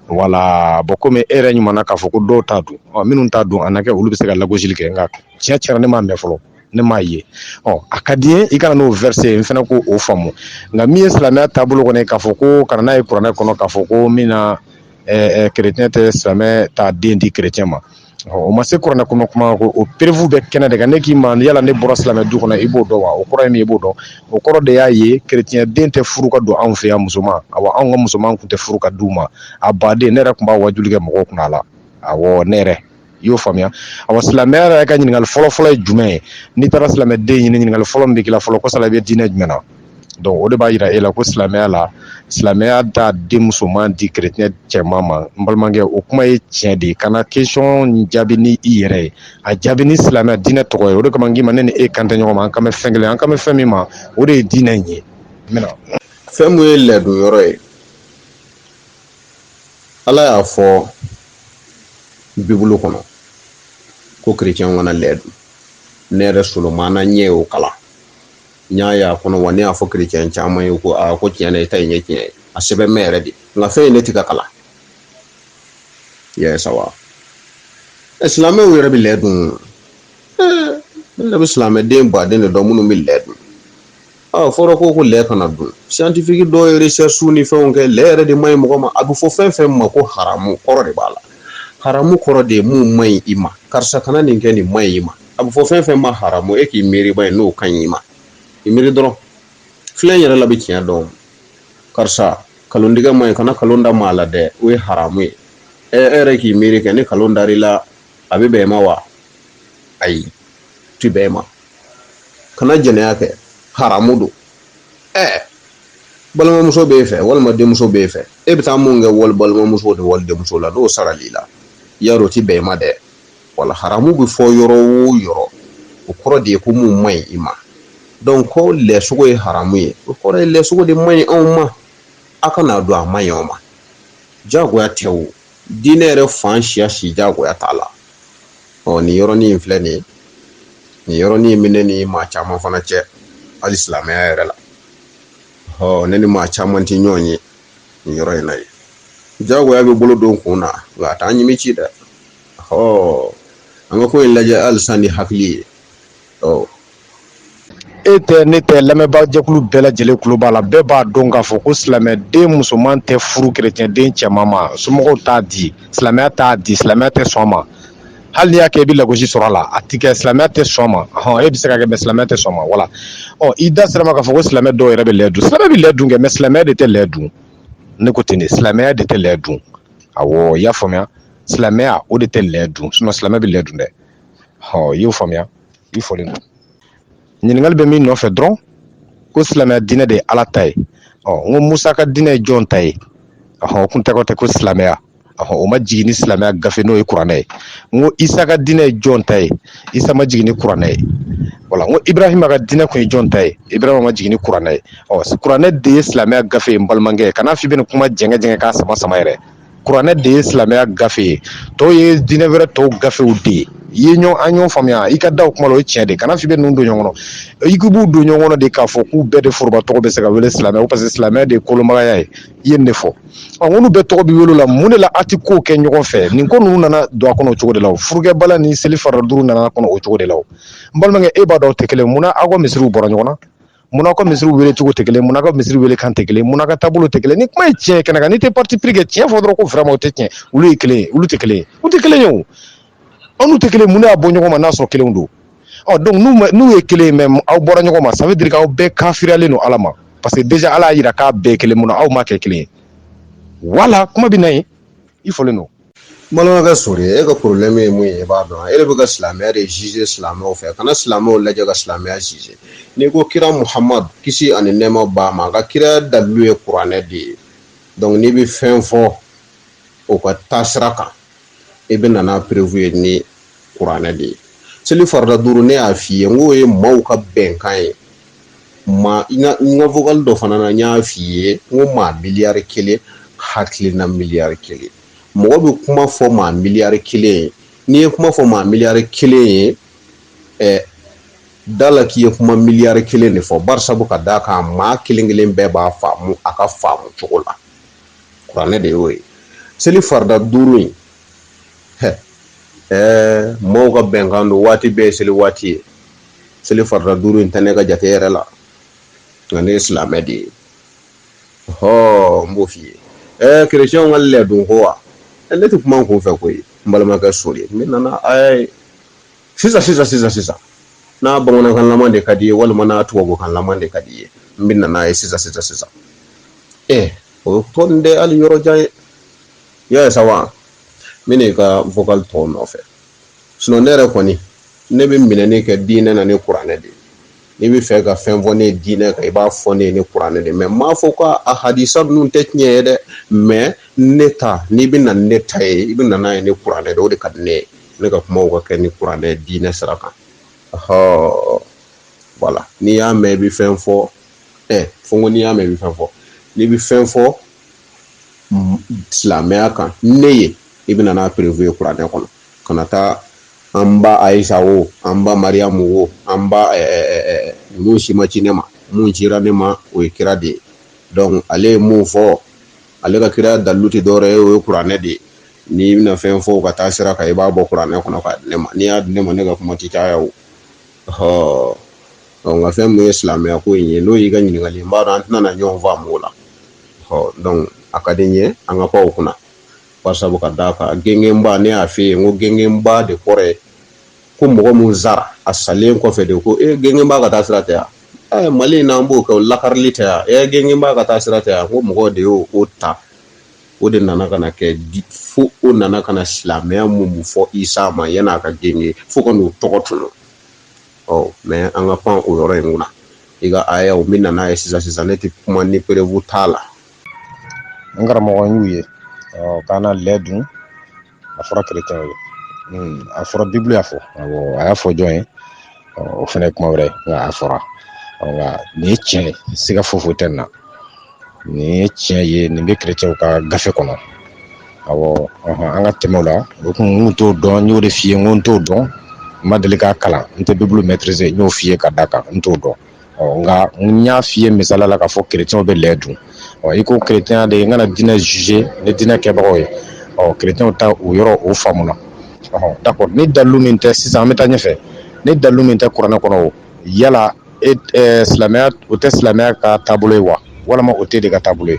wala bɔn komi e yɛrɛ ɲuman na k'a fɔ ko dɔw t'a dun minnu t'a dun a na kɛ olu bɛ se ka lagosili kɛ nka tiɲɛ tiɲɛ na ne m'a mɛn fɔlɔ ne m'a ye ɔ a ka di n ye i ka na n'o vɛrɛse n fana k'o faamu nka min ye silamɛya taabolo kɔnɔ k'a fɔ ko ka na n'a ye kuranɛ kɔnɔ k'a fɔ ko min na kerecɛn tɛ silamɛ t'a den di kerecɛn ma o ma se kuranɛ kɔnɔ kuma ko o perefu bɛ kɛnɛ de kan ne k'i ma yala ne bɔra silamɛ du kɔnɔ i b'o dɔn wa o kɔrɔ ye min ye i b'o dɔn o kɔrɔ de y'a ye kerecɛn den tɛ furu ka don anw fɛ yan musoman a anw ka musoman tun tɛ furu ka d'u ma a baden ne yɛrɛ tun b'a wajuli kɛ mɔgɔw kunna a la a ne yɛrɛ i y'o faamuya awa silamɛya yɛrɛ ka ɲininkali fɔlɔ fɔlɔ ye jumɛn ye n'i taara silamɛden ɲini ɲininkali fɔlɔ min bɛ k'i la fɔlɔ ko yala i bɛ diinɛ jumɛn na donc o de b'a yira e la ko silamɛya la silamɛya t'a den musoman di kerecɛn cɛman ma n balimakɛ o kuma ye tiɲɛ de ye kana question jaabi ni i yɛrɛ ye a jaabi ni silamɛya diinɛ tɔgɔ ye o de kama n k'i ma ne ni e kan tɛ ɲɔgɔn ma an kan bɛ fɛn kelen an kan bɛ fɛn min ma o de ye diinɛ in ye fɛn min ye lɛ dun yɔrɔ ye ala y'a fɔ bibulu kɔnɔ ko kerecɛn kana lɛ dun ne yɛrɛ solomana ne y'o kalan n y'a y'a kɔnɔ wa ne y'a fɔ kerecɛn caman ye ko aa ko tiɲɛ na i ta in ye tiɲɛ ye a sɛbɛn mɛ yɛrɛ de nka fɛn ye ne ti ka kalan yes awa ɛ silamɛw yɛrɛ bi lɛ dun ne yɛrɛ bi silamɛden baden de dɔn minnu bi lɛ dun a fɔra ko ko lɛ kana dun scientifique dɔw ye recherche ni fɛnw kɛ lɛ yɛrɛ de man ɲi mɔgɔ ma a bɛ fɔ fɛn fɛn ma ko haramu kɔrɔ de b'a la haramu kɔrɔ de ye mun man ɲi i ma karisa kana nin kɛ nin man ɲi i ma a bɛ fɔ fɛn fɛn ma haramu e k'i miiri b'a ye n'o ka ɲi i ma i miiri dɔrɔn filɛ yɛrɛ la bɛ tiɲɛ dɔn karisa kalontigɛ man ɲi kana kalon da maa la dɛ o ye haramu ye ɛ e yɛrɛ k'i miiri kɛ ni kalon dar'i la a bɛ bɛn i ma wa ayi a ti bɛn i ma kana jɛnɛya kɛ haramu don ɛɛ balimamuso b'e fɛ walima denmuso b'e fɛ e bɛ taa mun kɛ wali balimamuso ni wali denmuso la n'o saral'i la yarɔ o ti bɛn i ma dɛ wala haramu bɛ fɔ yɔrɔ o yɔrɔ o kɔrɔ de ye ko mun man ɲi i ma donc ko lɛsogo ye haramu ye o kɔrɔ ye lɛsogo de man ɲi anw ma a kana dun a man ɲi aw ma jagoya tɛ o diinɛ yɛrɛ fan siya si jagoya t'a la ɔ nin yɔrɔnin in filɛ nin ye nin yɔrɔnin in bɛ ne ni maa caman fana cɛ hali silamɛya yɛrɛ la ɔ ne ni maa caman tɛ ɲɔgɔn ye nin yɔrɔ in na ye jagoya bɛ bolo don kun na nka a tɛ ɲimi ci dɛ ɔ an ka ko in lajɛ halisa ni hakili ye e tɛ ne tɛ lamɛnbaajɛkulu bɛɛ lajɛlen tulo b'a la bɛɛ b'a dɔn k'a fɔ ko silamɛden musoman tɛ furu kerecɛnden cɛman ma somɔgɔw t'a di silamɛya t'a di silamɛya tɛ sɔn ma hali n'i y'a kɛ i bɛ lagosi sɔrɔ a la a ti kɛ silamɛya tɛ sɔn ma hɔn e bɛ se k'a kɛ mɛ silamɛya tɛ sɔn ma wala ɔ i da ser'a ma k'a fɔ ko silamɛ dɔw yɛrɛ bɛ lɛ dun silamɛ bɛ lɛ dun kɛ mɛ silamɛya de tɛ lɛ dun ne ko ten de silamɛya de tɛ lɛ dun awɔ i y'a faamuya silamɛya o de tɛ lɛ dun sinɔn silamɛ bɛ lɛ dun dɛ ɔ i y'o faamuya i folen don ɲininkali bɛ min nɔfɛ dɔrɔn ko silamɛya diinɛ de ye ala ta ye ɔ n ko musa ka diinɛ ye jɔn ta ye ɔhɔn o kun tɔgɔ tɛ ko silamɛya ɔhɔn o ma jigin ni silamɛya gafe n'o ye kuranɛ ye n ko isa ka diinɛ ye jɔn ta ye isa ma jigin ni kuranɛ ye wala n ko ibrahima ka diinɛ kun ye jɔn ta ye ibrahima ma jigin ni kuranɛ ye ɔ kuranɛ de ye silamɛya gafe ye n balimakɛ kana f'i bɛna kuma jɛngɛ jɛngɛ k'a sama sama yɛrɛ kuranɛ de ye silamɛya gafe ye tɔw ye diinɛ wɛrɛ tɔw gafew de ye i ye ɲɔgɔn an ɲɔgɔn faamuya i ka da o kuma la o ye tiɲɛ de kana f'i bɛ ninnu don ɲɔgɔn kɔnɔ i k'i b'u don ɲɔgɔn kɔnɔ de k'a fɔ k'u bɛɛ de foroba tɔgɔ bɛ se ka wele silamɛ ko paseke silamɛ de ye kolomagaya ye i ye nin de fɔ ɔ minnu bɛɛ tɔgɔ bɛ wele la mun de la a tɛ kow kɛ ɲɔgɔn fɛ nin ko ninnu nana don a kɔnɔ o cogo de la o furukɛbala ni seli farida duuru nana kɔnɔ o cogo de la o n balimakɛ e b'a dɔn aw tɛ kelen mun na aw ka misiriw bɔra ɲɔgɔn na Munna aw ka misiriw wele cogo tɛ kelen ye, munna aw ka misiriw wele kan tɛ kelen ye, munna aw ka taabolo tɛ kelen ye, ni kuma ye tiɲɛ ye kɛnɛ kan, n'i tɛ parti pris kɛ tiɲɛ fɔ dɔrɔn ko vraiment o tɛ tiɲɛ ye, olu ye kelen ye, olu tɛ kelen ye, u tɛ kelen ye o, aw n'u tɛ kelen ye, mun de y'a bɔ ɲɔgɔn ma n'a sɔrɔ kelenw don? Ɔ donc n'u ma n'u ye kelen ye mais aw bɔra ɲɔgɔn ma ça veut dire que aw bɛɛ kafiriyalen don Ala ma parce que déjà Ala y'a jira k'a bɛɛ ye kelen ye, mun na aw ma kɛ kelen ye? Voilà kuma bɛ na yen, i folen don. Balimakɛ sori e ka porobilɛmu ye mun ye i b'a dɔn e de bɛ ka silamɛya de zize silamɛw fɛ kana silamɛw lajɛ ka silamɛya zize n'i ko kira muhamadu kisi ani nɛɛma b'a ma a ka kiraya dalilu ye kuranɛ de ye dɔnku n'i bɛ fɛn fɔ o ka taasira kan i bɛ na n'a perevu ye ni kuranɛ de ye seli farida duuru ne y'a f'i ye n k'o ye maaw ka bɛnkan ye ma n ka vocal dɔ fana na n y'a f'i ye n ko maa miliyari kelen hakilina miliyari kelen mɔgɔ bɛ kuma fɔ maa miliyari kelen ye n'i ye kuma fɔ maa miliyari kelen ye ɛ da la k'i ye kuma miliyari kelen de fɔ bari sabu ka d'a kan maa kelen kelen bɛɛ b'a faamu a ka faamu cogo la kuranɛ de y'o ye seli farida duuru in ɛɛ maaw ka bɛnkan don waati bɛɛ ye seli waati ye seli farida duuru in tɛ ne ka jate yɛrɛ la nka ne ye silamɛ de ye hɔɔ n b'o f'i ye ɛɛ kerecɛnw ka lɛdun ko wa ne tɛ kuma n kun fɛ koyi n balimakɛ sori n bɛ na n'a ɛɛ sisan sisan sisan sisan n'a bamanankan laman de ka d'i ye walima n'a tubabukan laman de ka d'i ye n bɛ na n'a ye sisan sisan sisan ɛ o tɔ tɛ hali yɔrɔ jan ye i y'a ye sa wa n bɛ n'i ka vocal tɔw nɔfɛ sinon ne yɛrɛ kɔni ne bɛ minɛni kɛ diinɛ na ni kuranɛ de ye n'i bɛ fɛ ka fɛn fɔ ne ye diinɛ kan i b'a fɔ ne ye ni kuranɛ de ye mais n m'a fɔ ko a hadisa ninnu tɛ tiɲɛ ye dɛ mais ne ta n'i bɛ na ne ta ye i bɛ na n'a ye ni kuranɛ de o de ka di ne ye ne ka kumaw ka kɛ ni kuranɛ diinɛ sira kan ɔhɔɔ voilà n'i y'a mɛn i bɛ fɛn fɔ ɛ fo n ko n'i y'a mɛn i bɛ fɛn fɔ n'i bɛ fɛn fɔ silamɛya kan ne ye i bɛna n'a preuve ye kuranɛ kɔnɔ kana taa an ba ayisa o an ba mariyamu o an ba ninnu si ma ci ne ma mun cira ne ma o ye kira de ye donc ale ye mun fɔ ale ka kira dalu tɛ dɔwɛrɛ ye o ye kuranɛ de ye n'i bɛna fɛn fɔ ka taa sira kan i b'a bɔ kuranɛ kɔnɔ k'a di ne ma n'i y'a di ne ma ne ka kuma tɛ caya o nka fɛn min ye silamɛya ko in ye n'o y'i ka ɲininkali n b'a dɔn an tɛna ɲɔgɔn faamu o la a ka di n ye an ka pan o kunna sabu ka d'a kan gɛngɛnba ne y'a f'i ye n ko gɛngɛnba de kɔrɔ ye ko mɔgɔ min sara a salen kɔfɛ de ko gɛngɛnba ka taa sira tɛ yan mali in n'an b'o kɛ lakarili tɛ yan gɛngɛnba ka taa sira tɛ yan ko mɔgɔ de y'o o ta o de nana ka na kɛ di fo o nana ka na silamɛya mun mun fɔ isa ma yan n'a ka gɛngɛn fo ka n'o tɔgɔ tunu ɔ mɛ an ka pan o yɔrɔ in kunna i ka aya o min nana ye sisan sisan ne tɛ kuma ni preuve t'a la n karamɔgɔ y'u ye ɔ kana lɛ dun a fɔra kerecɛn ye hmm, a fɔra bibulu y'a fɔ a y'a fɔ jɔn ye o fana ye kuma wɛrɛ nka a fɔra nka nin ye tiɲɛ siga foyi foyi tɛ nin na nin ye tiɲɛ ye nin bɛ kerecɛnw ka gafe kɔnɔ awɔ an ka tɛmɛ o la o kun n t'o dɔn n y'o de f'i ye n ko n t'o dɔn n ma deli k'a kalan n tɛ bibulu maîtriser n y'o f'i ye ka d'a kan n t'o dɔn ɔ nka n y'a f'i ye misala la k'a fɔ kerecɛnw bɛ lɛ dun ɔ i ko kerecɛnya de ye n kana diinɛ juger ni diinɛ kɛbagaw ye ɔ kerecɛnw ta o yɔrɔ o faamuna ɔ d'accord ni dalu min tɛ sisan an bɛ taa ɲɛfɛ ni dalu min tɛ kuranɛ kɔnɔ o yala e silamɛya o tɛ silamɛya ka taabolo ye wa walima o t'e de ka taabolo ye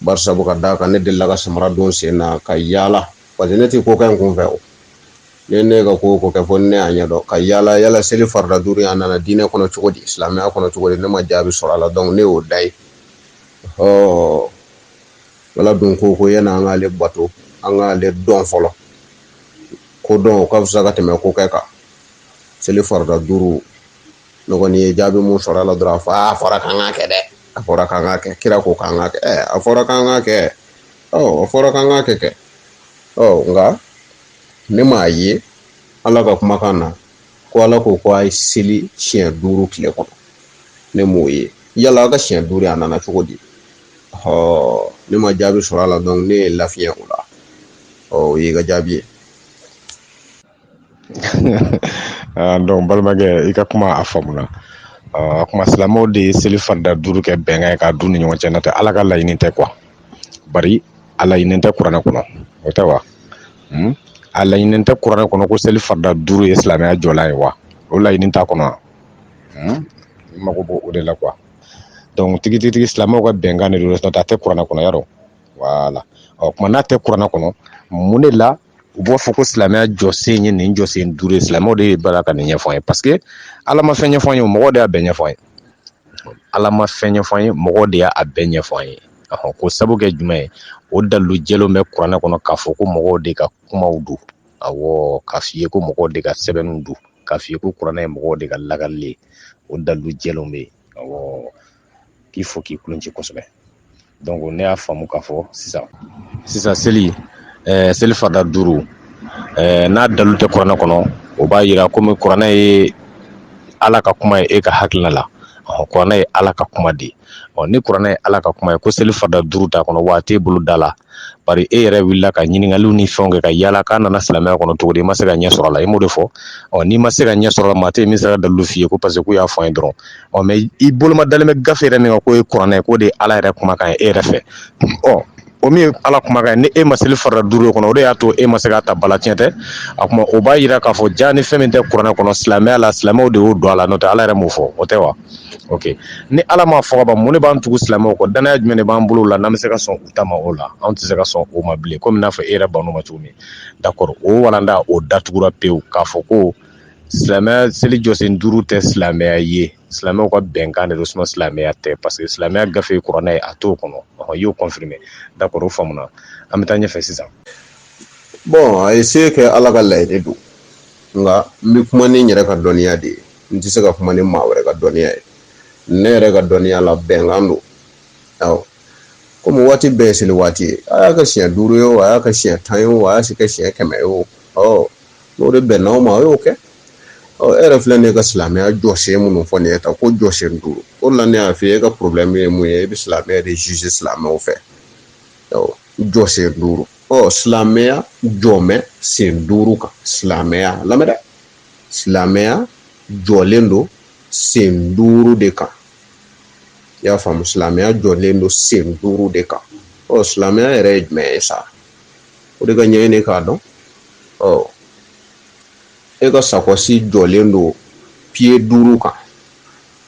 bari sabu ka d'a kan ne delila ka samara don sen na ka yaala parce que ne tɛ ko kɛ n kun fɛ o ne ne ka ko ko kɛ fo ne y'a ɲɛdɔn ka yaala yala seli farida duuru a nana diinɛ kɔnɔ cogo di silamɛya kɔnɔ cogo di ne ma jaabi sɔrɔ a la donc ne y'o da ye ɔ ala dun ko ko yanni an k'ale bato an k'ale dɔn fɔlɔ ko dɔn o ka fisa ka tɛmɛ ko kɛ kan seli farida duuru ne kɔni ye jaabi mun sɔrɔ a la dɔrɔn a fɔ a fɔra k'an k'a kɛ dɛ a fɔra k'an k'a kɛ kira ko k'an k'a kɛ ɛ a fɔra k'an k'a kɛ ɔ a fɔra k'an k'a kɛ kɛ ɔ nka ne m'a ye ala ka kumakan na ko ala ko ko a ye seli siɲɛ duuru tile kɔnɔ ne m'o ye yala a ka siɲɛ duuru a nana cogo di ɔ ne ma jaabi sɔrɔ a la donc ne ye lafiɲɛ o la ɔ o y'i ka jaabi ye ah, donc balimakɛ i ka kuma a faamuna ah, a kuma silamɛw de ye seli farida duuru kɛ bɛnkan ye k'a d'u ni ɲɔgɔn cɛ n'o tɛ ala ka laɲini tɛ quoi bari a laɲini tɛ kuranɛ kɔnɔ o tɛ wa hmm? a laɲini tɛ kuranɛ kɔnɔ ko seli farida duuru ye silamɛya jɔlan ye wa o laɲini t'a kɔnɔ wa hmm? i mago b'o o de la quoi donc tigitigi silamɛw ka bɛnkan de don n'o tɛ a tɛ kuranɛ kɔnɔ yarɔ voilà ɔ kuma n'a tɛ kuranɛ kɔnɔ mun de la u b'a fɔ ko silamɛya jɔsen ye nin jɔsen duuru ye silamɛw de ye baara ka nin ɲɛfɔ an ye parce que ala ma fɛn ɲɛfɔ an ye mɔgɔ de y'a bɛɛ ɲɛfɔ an ye ala ma fɛn ɲɛfɔ an ye mɔgɔ de y'a bɛɛ ɲɛfɔ an ye ɔ ko sabu kɛ jumɛn ye o dalu jɛlenw bɛ kuranɛ kɔnɔ k'a fɔ ko mɔgɔw de ka kumaw don awɔ k'a f'i ye ko mɔgɔw de ka sɛbɛnw don k'a f'i ye ko kuranɛ ye mɔgɔw de ka lagali ye o dalu jɛlenw bɛ yen k'i fo k'i kulonci kosɛbɛ donc ne y'a faamu k'a fɔ sisan sisan seli ɛɛ eh, seli farida duuru ɛɛ eh, n'a dalu tɛ kuranɛ kɔnɔ o b'a yira komi kuranɛ ye ala ka kuma ye e ka hakilina la ɔhɔ kuranɛ ye ala ka kuma de ɔ ni kuranɛ ye ala ka kuma ye ko seli farida duuru t'a kɔnɔ wa a t'e bolo da la bari e yɛrɛ wulila ka ɲininkaliw ni fɛnw kɛ ka yaala k'a nana silamɛya kɔnɔ cogo di i ma se ka ɲɛ sɔrɔ a la i m'o de fɔ ɔ n'i ma se ka ɲɛ sɔrɔ a la maa tɛ yen min sera ka dalilu f'i ye ko parce que k'u y'a fɔ an ye dɔrɔn ɔ mais i boloma dalen bɛ gafe yɛrɛ min kan k'o ye kuranɛ ye k'o de ye ala yɛrɛ kumakan ye e yɛrɛ fɛ ɔ o min ye ala kumakan ye ni e ma seli farida duuru kɔnɔ o de y'a to e ma se k'a ta ba la tiɲɛ tɛ a kuma o b'a yira k'a fɔ jaa ni fɛn min tɛ kuranɛ kɔnɔ silamɛya la silamɛw de y'o don a la n'o tɛ ala yɛrɛ m'o fɔ o tɛ wa ok ni ala m'a fɔ ka ban mun de b'an tugu silamɛw kɔ danya jumɛn de b'an bolo la n'an bɛ se ka sɔn u ta ma o la anw tɛ se ka sɔn o ma bilen komi n'a fɔ e yɛrɛ bann'o ma cogo min d'accord o walanda o datugura pewu k'a fɔ ko silamɛya seli jɔsen duuru tɛ silamɛya ye silamɛw ka bɛnkan de don suma silamɛya tɛ parce que silamɛya gafe ye kuranɛ ye a t'o kɔnɔ i y'o confirmer d'accord o faamuna an bɛ taa ɲɛfɛ sisan bon a ye se kɛ ala ka laɲini don nka n bɛ kuma ni n yɛrɛ ka dɔnniya de ye n tɛ se ka kuma ni maa wɛrɛ ka dɔnniya ye ne yɛrɛ ka dɔnniya la bɛnkan don awɔ komi waati bɛɛ ye seli waati ye a y'a kɛ siɲɛ duuru ye o a y'a kɛ siɲɛ tan ye o a y'a kɛ siɲɛ kɛmɛ ye o ɔ n'o de bɛnna o ma o y'o kɛ ɔ e yɛrɛ filɛ nin ye ka silamɛya jɔsen minnu fɔ nin ye tan ko jɔsen duuru o de la ne y'a f'i ye e ka problème ye mun ye e bɛ silamɛya de juger silamɛw fɛ awɔ jɔsen duuru ɔ silamɛya jɔmɛ sen duuru kan silamɛya lamɛn dɛ silamɛya jɔlen don sen duuru de kan i y'a faamu silamɛya jɔlen don sen duuru de kan ɔ silamɛya yɛrɛ ye jumɛn ye sa o de ka ɲɛɲini k'a dɔn ɔ e ka sakɔsi jɔlen don pied duuru kan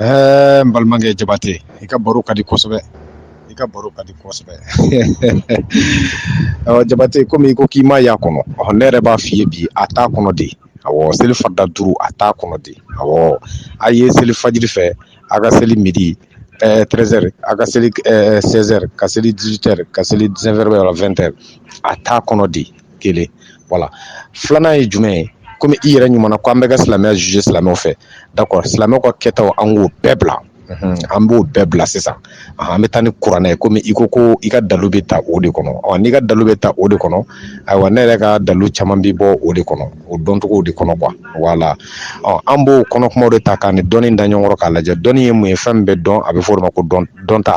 Ɛɛ n balimakɛ jabate i ka baro ka di kosɛbɛ i ka baro ka di kosɛbɛ jabate komi i ko k'i m'a y'a kɔnɔ ne yɛrɛ b'a f'i ye bi a t'a kɔnɔ de awɔ seli farida duuru a t'a kɔnɔ de awɔ a ye seli fajiri fɛ a ka seli midi treize heures a ka seli seize heures ka seli dix-huit heures ka seli dix-neuf heures wala vingt heures a t'a kɔnɔ de kelen voilà filanan ye jumɛn ye komi i yɛrɛ ɲuman ko an bɛ ka silamɛya juger silamɛw fɛ d'accord silamɛw ka kɛtaw an k'o bɛɛ bila an b'o bɛɛ bila sisan an bɛ taa ni kuranɛ ye komi i ko ko i ka dalu bɛ ta o de kɔnɔ ɔ n'i ka dalu bɛ ta o de kɔnɔ ayiwa ne yɛrɛ ka dalu caman bɛ bɔ o de kɔnɔ o dɔncogo de kɔnɔ quoi voilà ɔ an b'o kɔnɔ kumaw de ta k'a ni dɔnni da ɲɔgɔn kɔrɔ k'a lajɛ dɔnni ye mun ye fɛn min bɛ dɔn a bɛ fɔ o ma ko dɔn dɔnta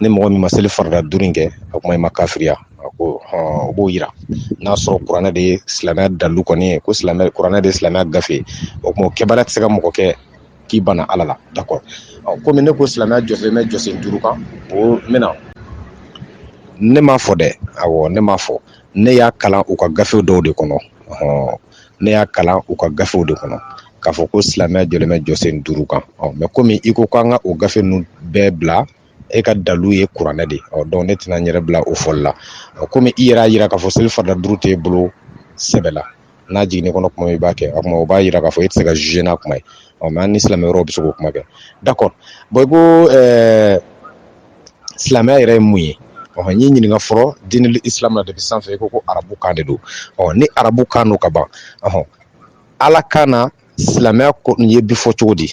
ni mɔgɔ min ma seli farida duuru in kɛ o kuma i ma kafiriya a ko o b'o yira n'a sɔrɔ kuranɛ de ye silamɛya dalu kɔni ye ko kuranɛ de ye silamɛya gafe o kuma o kɛbaliya tɛ se ka mɔgɔ kɛ k'i bana ala la d'accord komi ne ko silamɛya jɔsen bɛ jɔsen duuru kan o mɛna ne m'a fɔ dɛ awɔ ne m'a fɔ ne y'a kalan u ka gafe dɔw de kɔnɔ ne y'a kalan u ka gafew de kɔnɔ k'a fɔ ko silamɛya jɔlen bɛ jɔsen duuru kan ɔ mais komi i ko k'an ka o gafe ninnu bɛɛ bila e ka dalu ye kuranɛ de ɔ donc ne tɛna n yɛrɛ bila o fɔli la komi i yɛrɛ y'a yira k'a fɔ seli farida duuru t'e bolo sɛbɛ la n'a jiginn'i kɔnɔ kuma i b'a kɛ o kuma o b'a yira k'a fɔ e tɛ se ka juger n'a kuma ye ɔ mais an ni silamɛ wɛrɛw bɛ se k'o kuma kɛ d'accord bon i ko ɛɛ silamɛya yɛrɛ ye mun ye ɔ n y'i ɲininka fɔlɔ diinul islam na depuis sanfɛ i ko ko arabu kan de don ɔ ni arabu kan don ka ban ɔhɔn ala kan na silamɛya ko nin ye bi fɔ cogo di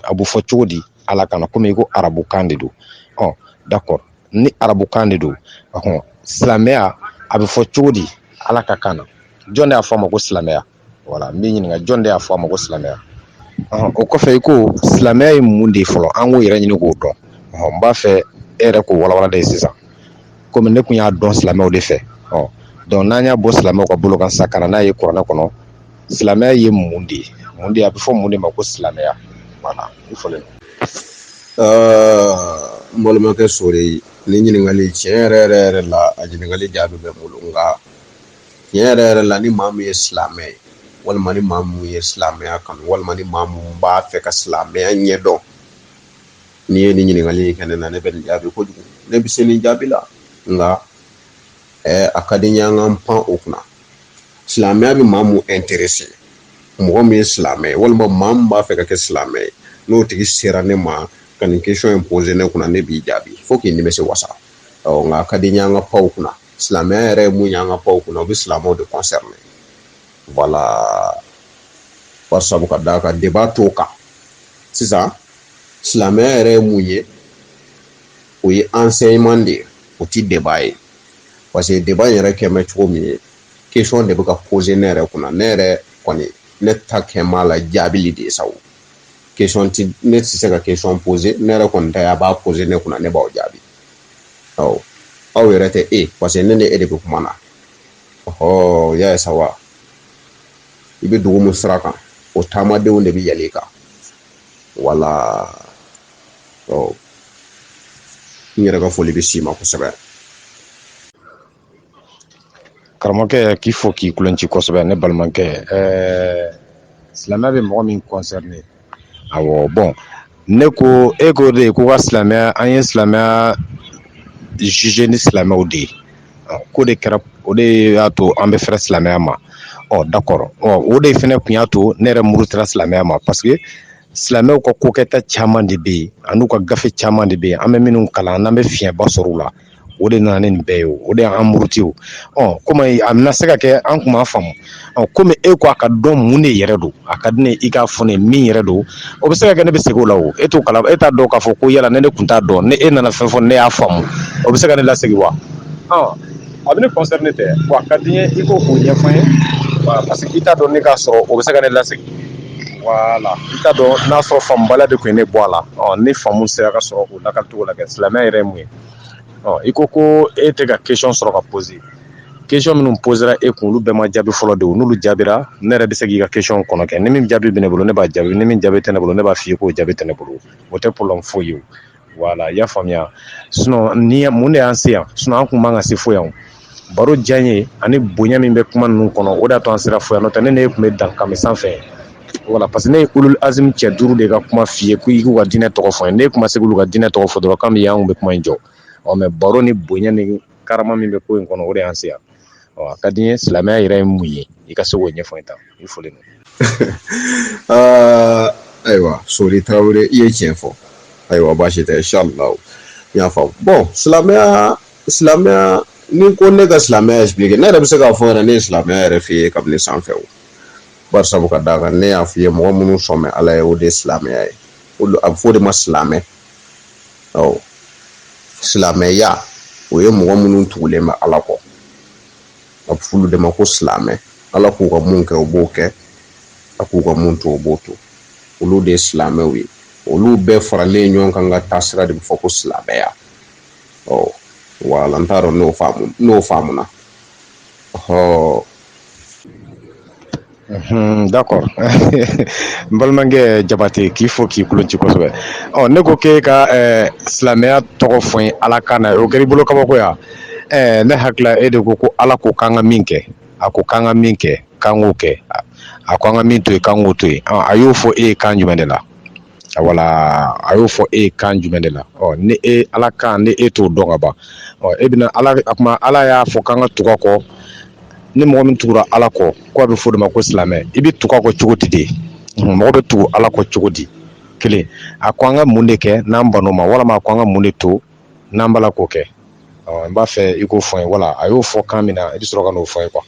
a bɛ fɔ cogo di ala kan na komi i ko arabu kan de don ɔ d'accord ni arabu kan de don ɔhɔn silamɛya a bɛ fɔ cogo di ala ka kan na jɔn de y'a fɔ a ma ko silamɛya voilà n bɛ ɲininka jɔn de y'a fɔ a ma ko silamɛya ɔhɔn, o kɔfɛ i ko silamɛya ye mun de ye fɔlɔ an k'o yɛrɛ ɲini k'o dɔn ɔhɔn, n b'a fɛ e yɛrɛ k'o walawala de ye sisan komi ne tun y'a dɔn silamɛw de fɛ ɔ donc n'an y'a bɔ silamɛw ka bolo kan sa ka na n'a ye kuranɛ kɔnɔ silamɛya ye mun de ye mun de a bɛ fɔ mun de ma ko silamɛya voilà i fɔlen n balimakɛ sori nin ɲininkali tiɲɛ yɛrɛ yɛrɛ yɛrɛ la a ɲininkali jaabi bɛ n bolo nka tiɲɛ yɛrɛ yɛrɛ la ni maa min ye silamɛ ye walima ni maa min ye silamɛya kanu walima ni maa min b'a fɛ ka silamɛya ɲɛdɔn n'i ye nin ɲininkali in kɛ ne na ne bɛ nin jaabi kojugu ne bɛ se nin jaabi la nka ɛɛ a ka di n ye an k'an pan o kunna silamɛya bɛ maa min intéresser mɔgɔ min ye silamɛ ye walima maa min b'a fɛ ka kɛ silamɛ ye n'o tigi sera ne ma ka nin question in poser ne kunna ne b'i jaabi fo k'i nimisi wasa ɔ nka a ka di n ye an ka pan o kunna silamɛya yɛrɛ ye mun ye an ka pan o kunna o bɛ silamɛw de concerner voilà bari sabu ka d'a kan débat t'o kan sisan silamɛya yɛrɛ ye mun ye o ye enseignement de ye o tɛ débat ye parce que débat yɛrɛ kɛ bɛ cogo min ye question de bɛ ka poser ne yɛrɛ kunna ne yɛrɛ kɔni ne ta kɛ b'a la jaabili de ye sa o question ne tɛ se ka question poser ne yɛrɛ kɔni ta a b'a poser ne kunna ne b'aw jaabi aw aw yɛrɛ tɛ e parce que ne ni e de bɛ kuma na ɔhɔ y'a ye sa wa i bɛ dugu mun sira kan o taamadenw de bɛ yɛlɛ i kan voilà ɔ n yɛrɛ ka foli bɛ s'i ma kosɛbɛ karamɔgɔkɛ k'i fo k'i kulonci kosɛbɛ ne balimakɛ ɛɛ silamɛya bɛ mɔgɔ min concerner awɔ bon ne ko e ko de ye ko ka silamɛya an ye silamɛya juger ni silamɛw de ye ko de kɛra o de y'a to an bɛ fɛrɛ silamɛya ma ɔ d'accord ɔ o de fɛnɛ tun y'a to ne yɛrɛ murutira silamɛya ma parce que silamɛw ka kokɛta caman de bɛ yen an'u ka gafe caman de bɛ yen an bɛ minnu kalan n'an bɛ fiɲɛba sɔrɔ u la o de nana nin bɛɛ ye o de y'an muruti o kɔmi a bɛna se ka kɛ an tun b'a faamu kɔmi e ko a ka dɔn mun de yɛrɛ don a ka di ne i k'a fɔ min yɛrɛ don o bɛ se ka kɛ ne bɛ segin o la o e t'o kala e t'a dɔn k'a fɔ ko yala ne ne tun t'a dɔn ni e nana fɛn fɔ ne y'a faamu o bɛ se ka ne lasegin wa a bɛ ne concerner tɛ wa a ka di n ye i k'o ɲɛfɔ n ye parce que i t'a dɔn ne k'a sɔrɔ o bɛ se ka ne lasegin voilà i t'a dɔn n'a sɔrɔ faamubaliya de tun ye ne bɔ a la ni faamu sera ka sɔrɔ o lakalicogo la kɛ silamɛya yɛrɛ ye mun ye ɔ i ko ko e tɛ ka question sɔrɔ ka poser question minnu posera e kun olu bɛɛ ma jaabi fɔlɔ de o n'olu jaabira ne yɛrɛ bɛ se k'i ka question kɔnɔ kɛ ni min jaabi bɛ ne bolo ne b'a jaabi ni min jaabi tɛ ne bolo ne b'a f'i ye k'o jaabi tɛ ne bolo o tɛ problème foyi ye o voilà i y'a faamuya sinon ni mun de y'an se yan sinon an tun man ka se fo yan o baro diyanye ani bonya min bɛ kuma ninnu kɔnɔ o de y'a to an sera fo yan n'o tɛ ne n'e tun bɛ dan kami sanfɛ voilà parce que ne ye ulul azim cɛ duuru de ka kuma f'i ye ko i k'u ka diinɛ tɔgɔ fɔ n ye n'e kun ma se k'u ka diinɛ tɔgɔ fɔ dɔrɔn kami yan an kun bɛ kuma in jɔ ɔ mais baro ni bonya ni karama min bɛ ko in kɔnɔ o de y'an se yan a ka di n ye silamɛya yɛrɛ ye mun ye i ka se k'o ɲɛfɔ n ye tan i fɔlen ayiwa sori tarawele i ye tiɲɛ fɔ ayiwa baasi tɛ inshallah n y'a faamu bon silamɛya silamɛya ni ko ne ka silamɛya expliquer ne yɛrɛ bɛ se k'a fɔ yɛrɛ ne ye silamɛya yɛrɛ f'i ye kabini sanfɛ o bari sabu ka d'a kan ne y'a f'i ye mɔgɔ minnu sɔn bɛ ala ye o de ye silamɛya ye o a bɛ fɔ o de ma silamɛ ɔ silamɛya o ye mɔgɔ minnu tugulen bɛ ala kɔ a bɛ f'olu de ma ko silamɛ ala k'u ka mun kɛ o b'o kɛ a k'u ka mun to o b'o to olu de ye silamɛw ye olu bɛɛ faralen ɲɔgɔn kan ka taasira de bɛ fɔ ko silamɛya ɔ wala n t'a dɔn n'o faamu n'o faamuna ɔ dakɔ n balimakɛ jabate k'i fo k'i kulonci kosɛbɛ ɔ ne ko k'e ka silamɛya tɔgɔ fɔ n ye ala kan na o kɛra i bolo kabakoya ne hakili la e de ko ko ala ko k'an ka min kɛ a ko k'an ka min kɛ k'an k'o kɛ a ko an ka min to yen k'an k'o to yen a y'o fɔ e ye kan jumɛn de la wala a y'o fɔ e ye kan jumɛn de la ɔ ni e ala kan ni e t'o dɔn ka ban ɔ e bɛna ala a kuma ala y'a fɔ k'an ka tugu a kɔ ni mɔgɔ min tugura ala kɔ k'a bɛ fɔ o de ma ko silamɛ i bɛ tugu a kɔ cogo di de mɔgɔ bɛ tugu ala kɔ cogo di kelen a ko an ka mun de kɛ n'an ban'o ma walima a ko an ka mun de to n'an b'a la k'o kɛ ɔ n b'a fɛ i k'o fɔ n ye wala a y'o fɔ kan min na i bɛ sɔrɔ ka n'o fɔ n ye kuwa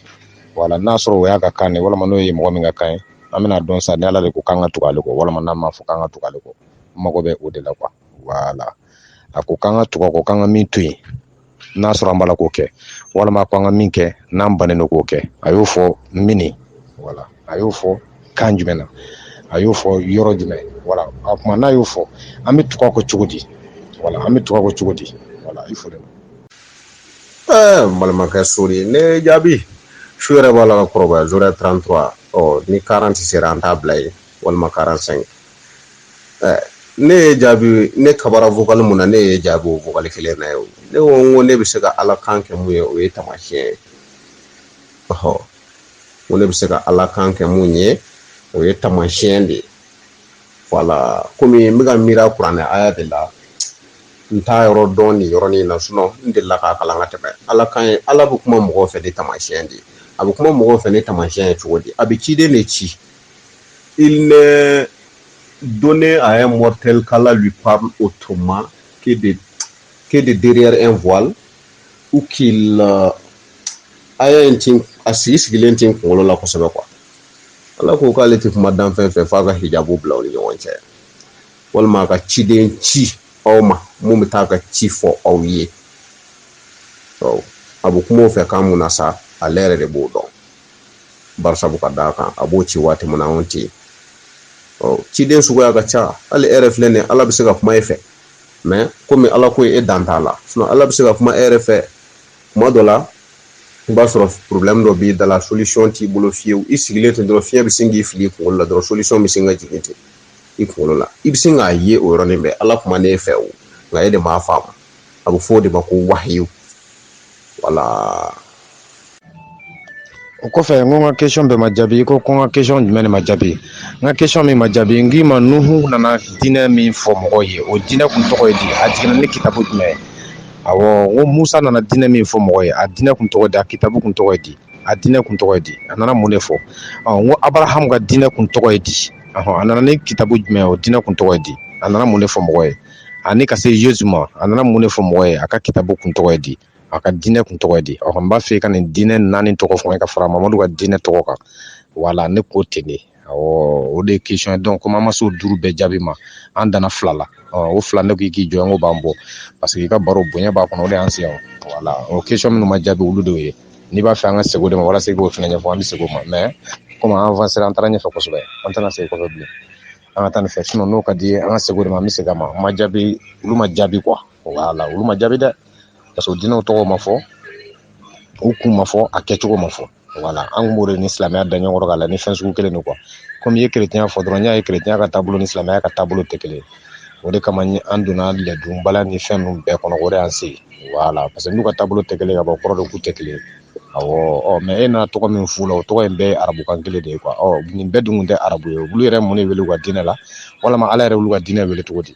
wala n'a sɔrɔ o y'a ka kan ye walima n'o ye mɔgɔ min ka kan ye an bɛn'a dɔn sa ni ala de ko k'an ka tugu ale kɔ walima n'a ma fɔ k'an ka tugu ale kɔ n mago bɛ o de la kuwa wala a ko k'an ka tugu a kɔ k'an ka min to yen n'a sɔrɔ an b'a la k'o kɛ walima a ko an ka min kɛ n'an bannen don k'o kɛ a y'o fɔ mini wala a y'o fɔ kan jumɛn na a y'o fɔ yɔrɔ jumɛn wala a kuma n'a y'o fɔ an bɛ tugu a kɔ cogo di wala an bɛ tugu a kɔ cogo di wala i fo dɛ ɛɛ n balimakɛ sori ne y'e jaabi su yɛrɛ b'a la ka kɔrɔbaya zorɛ 33 ɔ ni 40 sera an t'a bila yen walima 45 ɛɛ ne y'e jaabi ne kabara vokali min na ne y'e jaabi o vokali kelen na ye ne ko n ko ne bɛ se ka ala kan kɛ mun ye o ye tamasiyɛn ye ɔhɔ n ko ne bɛ se ka ala kan kɛ mun ye o ye tamasiyɛn de ye wala komi n bɛka miiri kuranɛ aya de la n t'a yɔrɔ dɔn nin yɔrɔnin na sinɔn n delila k'a kalan ka tɛmɛ ala kan ye ala bɛ kuma mɔgɔw fɛ ni tamasiyɛn de a bɛ kuma mɔgɔw fɛ ni tamasiyɛn ye cogo di a bɛ ciden de ci il n'est donné à un mortel qu'Allah lui parle autrement que de, que de derrière un voile ou qu'il euh, aya in tɛ n a sigi sigilen tɛ n kunkolo la kosɛbɛ kuwa ala ko k'ale tɛ kuma danfɛn fɛ f'a ka hijabu bila u ni ɲɔgɔn cɛ walima a ka ciden ci aw ma min bɛ taa ka ci fɔ aw ye a bɛ kuma o fɛ kan min na sa ale yɛrɛ de b'o dɔn barisabu ka d'a kan a b'o ci waati min na anw tɛ yen ciden suguya ka ca hali e yɛrɛ filɛ nin ye ala bɛ se ka kuma e fɛ mɛ komi ala ko ye e dan t'a la ala bɛ se ka kuma e yɛrɛ fɛ kuma dɔ la i b'a sɔrɔ porobilɛmu dɔ b'i da la solisɔn t'i bolo fiyewu i sigilen ten dɔrɔn fiɲɛ bɛ sin k'i fili i kunkolo la dɔrɔn solisɔn bɛ sin ka jigin ten i kunkolo la i bɛ sin k'a ye o yɔrɔnin bɛɛ ala kuman'e fɛ o nka e de m'a faamu a bɛ fɔ o de ma ko wahiyu wala o kɔfɛ n ko n ka question bɛɛ ma jaabi i ko ko n ka question jumɛn de ma jaabi n ka question min ma jaabi n k'i ma nuhu nana diinɛ min fɔ mɔgɔw ye o diinɛ kun tɔgɔ ye di a jiginna ni kitabu jumɛn ye awɔ n ko musa nana diinɛ min fɔ mɔgɔw ye a diinɛ kun tɔgɔ ye di a kitabu kun tɔgɔ ye di a diinɛ kun tɔgɔ ye di a nana mun de fɔ n ko abarahamu ka diinɛ kun tɔgɔ ye di ɔhɔn a nana ni kitabu jumɛn ye o diinɛ kun tɔgɔ ye di a nana mun de fɔ mɔgɔw ye ani ka se yezu ma a nana mun de fɔ mɔgɔw ye a ka kitabu kun tɔgɔ ye di a ka diinɛ kun tɔgɔ ye di a n b'a fɛ i ka nin diinɛ naani tɔgɔ fɔ ka fara mamadu ka diinɛ tɔgɔ kan voilà ne k'o ten de o de ye question ye donc comme an ma se o duuru bɛɛ jaabi ma an danna fila la o fila ne k'i k'i jɔ k'o b'an bɔ parce que i ka baro bonya b'a kɔnɔ o de y'an se yan voilà o question minnu ma jaabi olu de ye n'i b'a fɛ an ka segin o de ma walasa i k'o fana ɲɛfɔ an bɛ segin o ma mais comme an avancera an taara ɲɛfɛ kosɛbɛ an tɛna segin kɔfɛ bilen an ka taa nin fɛ sinon n'o ka di i ye an ka segin o de ma an bɛ segin a ma ma jaabi olu ma jaabi quoi voilà olu ma jaabi dɛ Parce que o diinɛw tɔgɔ ma fɔ u kun ma fɔ a kɛcogo ma fɔ voilà an kun b'o de ni silamɛya da ɲɔgɔn kɔrɔ k'a la ni fɛn sugu kelen don quoi comme i ye kerecɛnya fɔ dɔrɔn n y'a ye kerecɛnya ka taabolo ni silamɛya ka taabolo tɛ kelen ye o de kama ni an donna lɛdon bala ni fɛn ninnu bɛɛ kɔnɔ o de y'an se voilà parce que n'u ka taabolo tɛ kelen ye ka bɔ kɔrɔ don k'u tɛ kelen ye awɔ ɔ mais e nana tɔgɔ min f'u la o tɔgɔ in bɛɛ ye arabukan kelen de ye quoi ɔ nin bɛɛ dun kun tɛ arabu ye olu yɛrɛ mun de wele u ka diinɛ la walama ala yɛrɛ y'olu ka diinɛ wele cogo di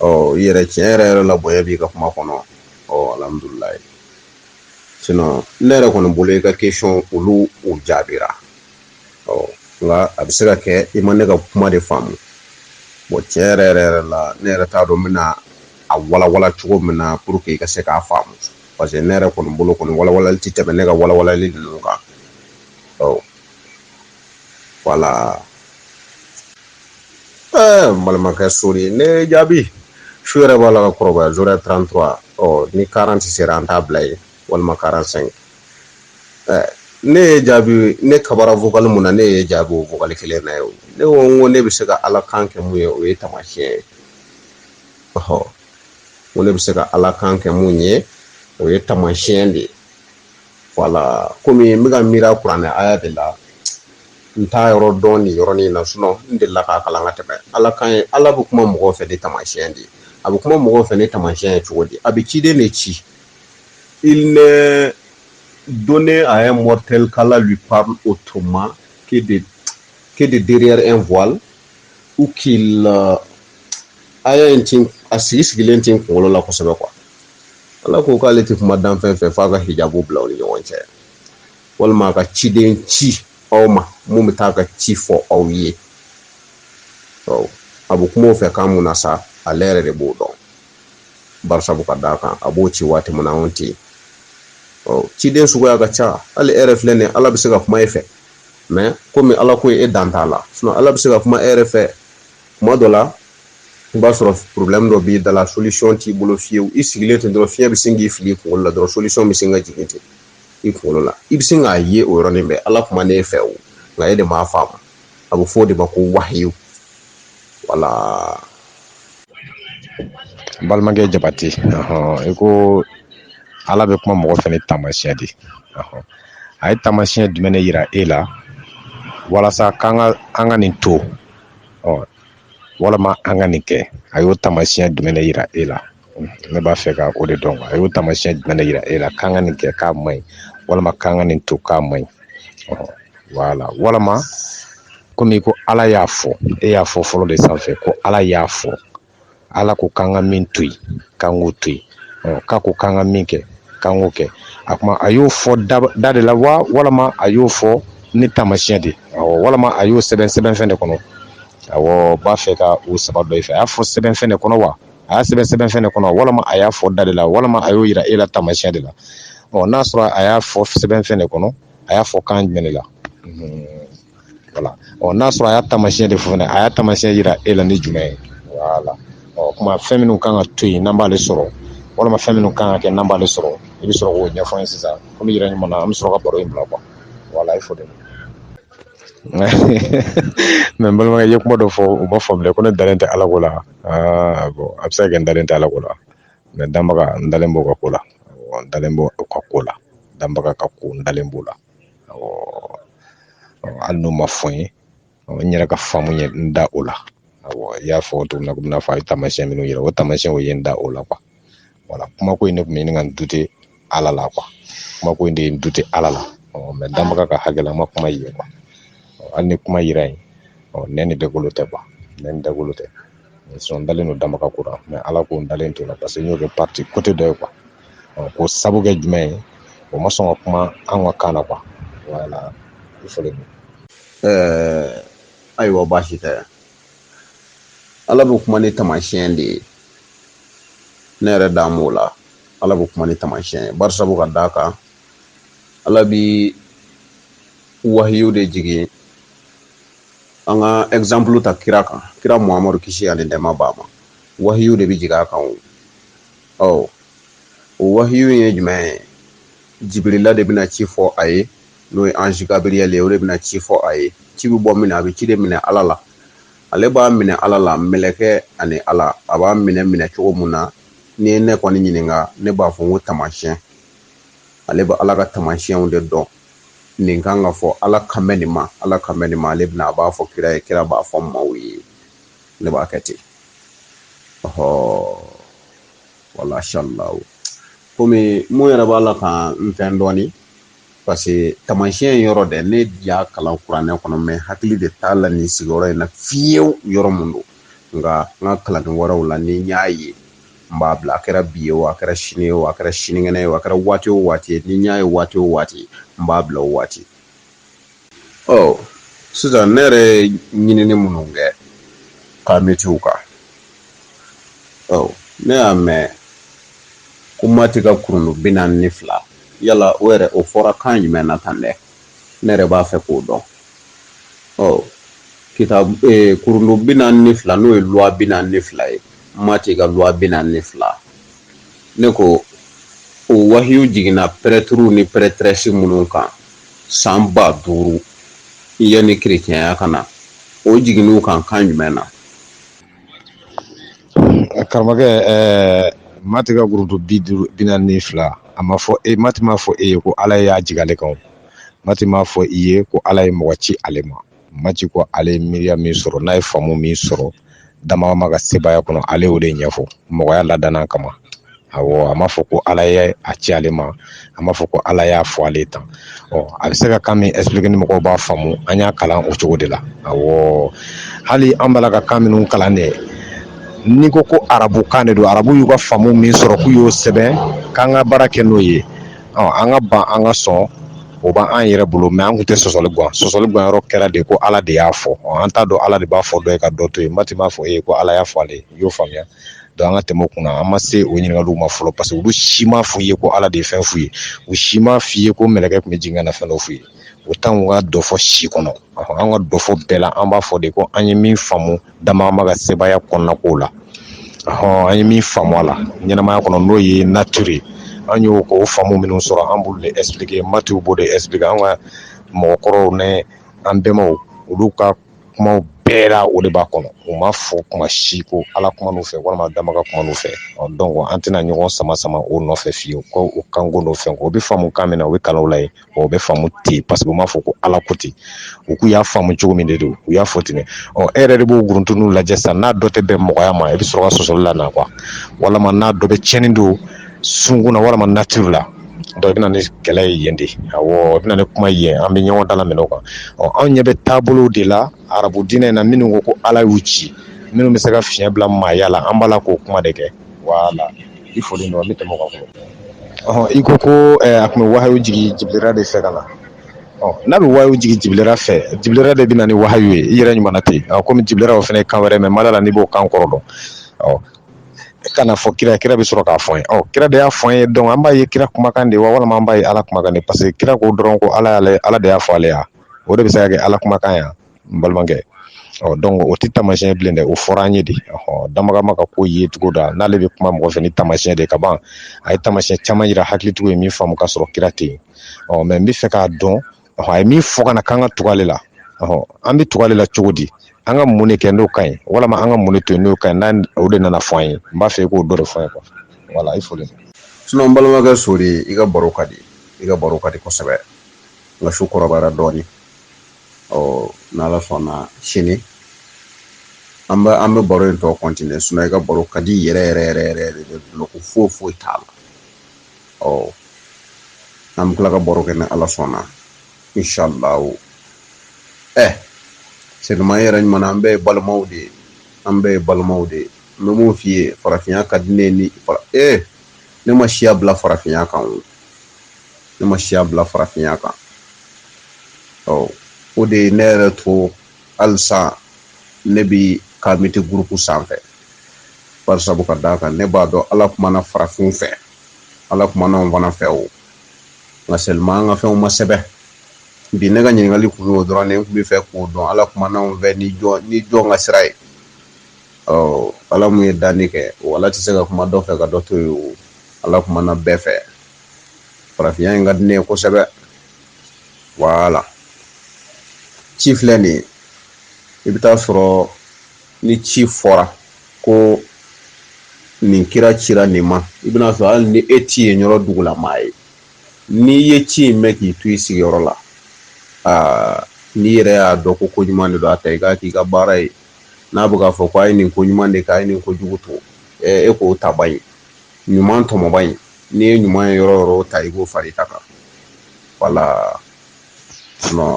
ɔ i yɛrɛ tiɲɛ yɛrɛ yɛrɛ la bonya b'i ka kuma kɔnɔ ɔ alhamdulilayi sinon ne yɛrɛ kɔni bolo i ka question olu u jaabira ɔ nka a bɛ se ka kɛ i ma ne ka kuma de faamu bon tiɲɛ yɛrɛ yɛrɛ yɛrɛ la ne yɛrɛ t'a dɔn n bɛna a walawala cogo min na pour que i ka se k'a faamu parce que ne yɛrɛ kɔni bolo kɔni walawalali tɛ tɛmɛ ne ka walawalali ninnu kan ɔ voilà ɛɛ n balimakɛ sori ne jaabi su yɛrɛ b'a la ka kɔrɔbaya zora 33 ɔ ni 40 sera an t'a bila ye walima 45 ɛɛ ne y'i jaabi ne kabara vocal mun na ne y'i jaabi o vocal kelen na ye ne ko n ko ne bɛ se ka ala kan kɛ mun ye o ye tamasiyɛn ye ɔhɔ n ko ne bɛ se ka ala kan kɛ mun ye o ye tamasiyɛn de ye voilà comme n bɛka miiri kuranɛ aya de la n t'a yɔrɔ dɔn nin yɔrɔ in na sinon n delila k'a kalan ka tɛmɛ ala kan ye ala bɛ kuma mɔgɔ fɛ ni tamasiyɛn de ye a bɛ kuma mɔgɔ fɛ ni tamasiyɛn ye cogo di a bɛ ciden de ci il n'est donné à un mortel qu'Allah lui parle autrement que de que de derrière un voile ou qu'il aya a sigi sigilen tɛ n kunkolo la kosɛbɛ quoi Ala ko k'ale tɛ kuma danfɛn fɛ f'a ka hijabu bila aw ni ɲɔgɔn cɛ walima a ka ciden ci aw ma mun bɛ taa ka ci fɔ aw ye a bɛ kuma o fɛ kan mun na sa ale yɛrɛ de b'o dɔn barisabu ka d'a kan a b'o ci waati min na anw tɛ yen ciden suguya ka ca hali e yɛrɛ filɛ nin ye ala bɛ se ka kuma e fɛ mɛ komi ala ko e dan t'a la ala bɛ se ka kuma e yɛrɛ fɛ kuma dɔ la i b'a sɔrɔ problème dɔ b'i da la solution t'i bolo fiyewu i sigilen ten dɔrɔn fiɲɛ bɛ sin k'i fili i kunkolo la dɔrɔn solution bɛ sin ka jigin ten i kunkolo la i bɛ sin k'a ye o yɔrɔnin bɛɛ ala kumana e fɛ o nka e de m'a faamu a bɛ fɔ o de ma ko wahiyu voilà balimakɛ jabate i ko ala bɛ kuma mɔgɔ fɛ ni taamasiyɛn de a ye taamasiyɛn jumɛn de yira e la walasa k'an ka an ka nin to ɔ walama an ka nin kɛ a y'o taamasiyɛn jumɛn de yira e la ne b'a fɛ ka o de dɔn a y'o taamasiyɛn jumɛn de yira e la k'an ka nin kɛ k'a man ɲi walama k'an ka nin to k'a man ɲi wala walama komi ko ala y'a fɔ e y'a fɔ fɔlɔ de sanfɛ ko ala y'a fɔ ala ko k'an ka min to yen k'an k'o to yen k'a ko k'an ka min kɛ k'an k'o kɛ a kuma a y'o fɔ da de la wa walama a y'o fɔ ni taamasiyɛn de walama a y'o sɛbɛn sɛbɛnfɛn de kɔnɔ awɔ n b'a fɛ ka o saba dɔn i fɛ a y'a fɔ sɛbɛnfɛn de kɔnɔ wa a y'a sɛbɛn sɛbɛnfɛn de kɔnɔ walama a y'a fɔ da de la walama a y'o yira e la taamasiyɛn de la ɔ n'a sɔrɔ a y'a fɔ sɛbɛnfɛn de kɔnɔ a y'a fɔ kan jumɛn de la voilà ɔ n'a sɔrɔ a y'a taamasiyɛn de fɔ fɛnɛ a y'a taamasiyɛn yira e la ni jumɛn ye voilà ɔ kuma fɛn minnu kan ka to yen n'an b'ale sɔrɔ walama fɛn minnu kan ka kɛ n'an b'ale sɔrɔ i bɛ sɔrɔ k'o ɲɛfɔ an ye sisan komi yɛrɛ ɲuman na an bɛ sɔrɔ ka baro in bila quoi voilà i fo de mɛ n balimakɛ i ye kuma dɔ fɔ o ma faamuya ko ne dalen tɛ ala ko la aa bon a bɛ se ka kɛ n dalen tɛ ala ko la mais danbaga n dalen b'o ka ko la n dalen b'o ka ko la danbaga ka ko n dalen b'o la hali n'o ma fɔ n ye n yɛrɛ ka faamu ye n da o la i y'a fɔ cogo min na komi n'a fɔ a ye taamasiyɛn minnu yira o taamasiyɛn o ye n da o la voilà kuma ko in ne tun b'a ɲini ka n douter ala la quoi kuma ko in de ye n douter ala la mais danbaga ka hakɛ la n ma kuma ye quoi hali ni kuma yira yen nɛn ni dagolo tɛ quoi nɛn ni dagolo tɛ n dalen don danbaga ka ko la mais Ala ko n dalen t'o la parce que n y'o kɛ partie côté dɔ ye quoi ɔ k'o sabu kɛ jumɛn ye o ma sɔn ka kuma an ka kan na quoi voilà i fɔlen don ɛɛ ayiwa baasi tɛ Ala bɛ kuma ni taamasiyɛn de ye ne yɛrɛ dan b'o la Ala bɛ kuma ni taamasiyɛn ye barisabu ka d'a kan Ala bi wahiyu de jigin an ka exemple ta kira kan kira muhamadu kisi ani nɛɛma b'a ma wahiyu de bɛ jigin a kan o ɔ o wahiyu ye jumɛn ye jibirila de bɛna ci fɔ a ye n'o ye ange Gabriel ye o de bɛna ci fɔ a ye ci bɛ bɔ min a bɛ ci de minɛ ala la ale b'a minɛ ala la mɛlɛkɛ ani ala a b'a minɛ minɛ cogo mun na n'i ye ne kɔni ɲininka ne b'a fɔ n ko taamasiyɛn ale bɛ ala ka tamasiyɛnw de dɔn nin kan ka fɔ ala kan bɛ nin ma ala kan bɛ nin ma ale bɛna a b'a fɔ kira ye kira b'a fɔ maaw ye ne b'a kɛ ten ɔhɔ wala shallahu komi mun yɛrɛ b'a la ka n fɛn dɔɔni parce que tamasiyɛn yɔrɔ dɛ ne y'a kalan kuranɛ kɔnɔ mɛ hakili de t'a la nin sigiyɔrɔ in na fiyewu yɔrɔ mun don nka n ka kalanni wɛrɛw la ni n y'a ye n b'a bila a kɛra bi ye o a kɛra sini ye o a kɛra sinikɛnɛ ye o a kɛra waati o waati ye ni n y'a ye waati o waati n b'a bila o waati ɔ sisan ne yɛrɛ ye ɲinini minnu kɛ kamitiw kan ɔ ne y'a mɛn ko mati ka kurundu bi naani ni fila yala o yɛrɛ o fɔra kan jumɛn na tan dɛ ne yɛrɛ b'a fɛ k'o dɔn ɔ kita e, kurundu bi naani ni fila n'o ye loi bi naani ni fila ye mati ka loi bi naani ni fila ne ko o wahiyu jiginna prêtres ni prêtresses minnu kan san ba duuru yanni kerecɛnya ka na o jiginn'u kan kan jumɛn na karamɔgɔkɛ ɛɛ mati ka kurundu bi duuru bi naani ni fila a m'a fɔ e mati m'a fɔ e ye ko ala y'a jigin ale kan mati m'a fɔ i ye ko ala ye mɔgɔ ci ale ma mati ko ale ye miiriya min sɔrɔ n'a ye faamu min sɔrɔ danbaa ma ka sebaaya kɔnɔ ale y'o de ɲɛfɔ mɔgɔya ladilan kama a a m'a fɔ ko ala ye a ci ale ma a m'a fɔ ko ala y'a fɔ ale tan ɔ a bɛ se ka kan min expliquer ni mɔgɔw b'a faamu an y'a kalan o cogo de la a hali an b'a la ka kan minnu kalan de n'i ko ko arabukan de don arabu y'u ka faamu min sɔrɔ k'u y'o sɛbɛn k'an ka baara kɛ n'o ye an ka ban an ka sɔn o b'an yɛrɛ bolo mɛ an kun tɛ sɔsɔli gan sɔsɔli gan yɔrɔ kɛra de ko ala de y'a fɔ an t'a dɔn ala de b'a fɔ dɔ ye ka dɔ to yen mati m'a fɔ e ko ala y'a fɔ ale y'o faamuya donc an ka tɛmɛ o kunna an ma se o ɲininkali ma fɔlɔ parce que olu si m'a f'i ye ko ala de ye fɛn f'u ye u si m'a f'i ye ko mɛlɛkɛ tun bɛ jigin ka na fɛn dɔ f'u ye o t'an ka dɔfɔ si kɔnɔ an ka dɔfɔ bɛɛ la an b'a fɔ de ko an ye min faamu danbaa ma ka sebaaya kɔnɔna ko la ɔ an ye min faamu a la ɲɛnamaya kɔnɔ n'o ye nature ye an y'o ko faamu minnu sɔrɔ an b'olu de expliquer Matiw b'o de expliquer an ka mɔgɔkɔrɔw ni an bɛnbaw olu ka kumaw bɛɛ la o de b'a kɔnɔ u ma fɔ kuma si ko Ala kuman'u fɛ walima danbaga kuman'u fɛ ɔ donc an tɛna ɲɔgɔn sama sama o nɔfɛ fiyewu ko o kanko n'o fɛnko o bɛ faamu kan min na o bɛ kalan o la yen o bɛ faamu ten paseke u m'a fɔ ko ala ko ten u k'u y'a faamu cogo min de don u y'a fɔ ten e yɛrɛ de b'o guruntuninw lajɛ sa n'a dɔ tɛ bɛn mɔgɔya ma i bɛ sɔrɔ ka sɔsɔli lana quoi walima n'a dɔ bɛ cɛnni don sunkun walima nature la donc i bɛ na ni kɛlɛ ye yen de i bɛ na ni kuma ye an bɛ ɲɔgɔn dalaminɛ o kan ɔ anw ɲɛ bɛ taabolo de la arabu diinɛ in na minnu ko ko ala y'u ci minnu bɛ se ka fiɲɛ bila maaya la an b'a la k'o kuma de kɛ wala i fɔlen donc an bɛ tɛmɛ o kan fɔlɔ ɔ i ko ko eh, a tun bɛ wahayu jigi jibilira de fɛ ka na ɔ n'a bɛ wahayu jigi jibilira fɛ jibilira de bɛ na ni wahayu ye i yɛrɛ ɲuman ten ɔ komi jibilira o fana ye kan wɛrɛ mɛn ma da la n'i b'o kan kɔrɔ dɔn ɔ ka n'a fɔ kira kira bɛ sɔrɔ k'a fɔ an ye ɔ kira de y'a fɔ an ye donc an b'a ye kira kumakan de wa walima an b'a ye ala kumakan de parce que kira ko dɔrɔn ko ala y'ale ala de y'a fɔ ale ye o de bɛ se ka kɛ ala kumakan ye wa n balimakɛ ɔ donc o tɛ taamasiyɛn bilen dɛ o fɔra an ye de ɔ dabaga ma ka ko ye cogo la n'ale bɛ kuma mɔgɔ fɛ ni taamasiyɛn de ka ban a ye taamasiyɛn caman jira hakilitigiw ye min faamu ka sɔrɔ kira tɛ yen ɔ mɛ n bɛ fɛ k'a dɔn a ye min fɔ ka na k'an ka tugu ale la ɔ an bɛ tugu ale la cogo di an ka mun de kɛ n'o ka ɲi walima an ka mun to yen n'o ka ɲi o de nana fɔ an ye n b'a fɛ i k'o dɔ de fɔ an ye kuwa wala i fɔlen sinon balimakɛ sori i ka baro ka di i ka baro ka di kosɛbɛ nka su kɔrɔbayara dɔɔnin ɔ n'ala sɔnna sini an bɛ an bɛ baro in tɔ kɔntine sinɔ i ka baro ka di yɛrɛ yɛrɛ yɛrɛ yɛrɛ yɛrɛ de bolo ko foyi foyi t'a la ɔ an bɛ tila ka baro kɛ ni ala sɔnna inshallahu ɛ sɛduma yɛrɛ ɲuman an bɛɛ ye balimaw de ye an bɛɛ ye balimaw de ye n bɛ mun f'i ye farafinya ka di ne ni ee ne ma siya bila farafinya kan o ne ma siya bila farafinya kan ɔ o de ye ne yɛrɛ to halisa ne bi kamite gurupu sanfɛ bari sabu ka d'a kan ne b'a dɔn ala kumana farafinw fɛ ala kumana anw fana fɛ o nka seulement an ka fɛnw ma sɛbɛn bi ne ka ɲininkali kun y'o dɔrɔn ne kun bɛ fɛ k'o dɔn ala kumana anw fɛ ni jɔn ni jɔn ka sira ye ɔ ala mun ye danni kɛ o ala tɛ se ka kuma dɔ fɛ ka dɔ to yen o ala kumana bɛɛ fɛ farafinya in ka di ne ye kosɛbɛ wala ci filɛ nin ye i bɛ taa sɔrɔ ni ci fɔra ko nin kira cira nin ma i bɛna sɔrɔ hali ni e ti yen yɔrɔ dugulamaa ye n'i ye ci in mɛn k'i to i sigiyɔrɔ la aa n'i yɛrɛ y'a dɔn ko ko ɲuman de don a ta i k'a k'i ka baara ye n'a bɛ k'a fɔ ko a ye nin ko ɲuman de kɛ a ye nin ko jugu to e k'o ta ban ye ɲuman tɔmɔbaa ye n'i ye ɲuman ye yɔrɔ o yɔrɔ a ta i k'o fara i ta kan wala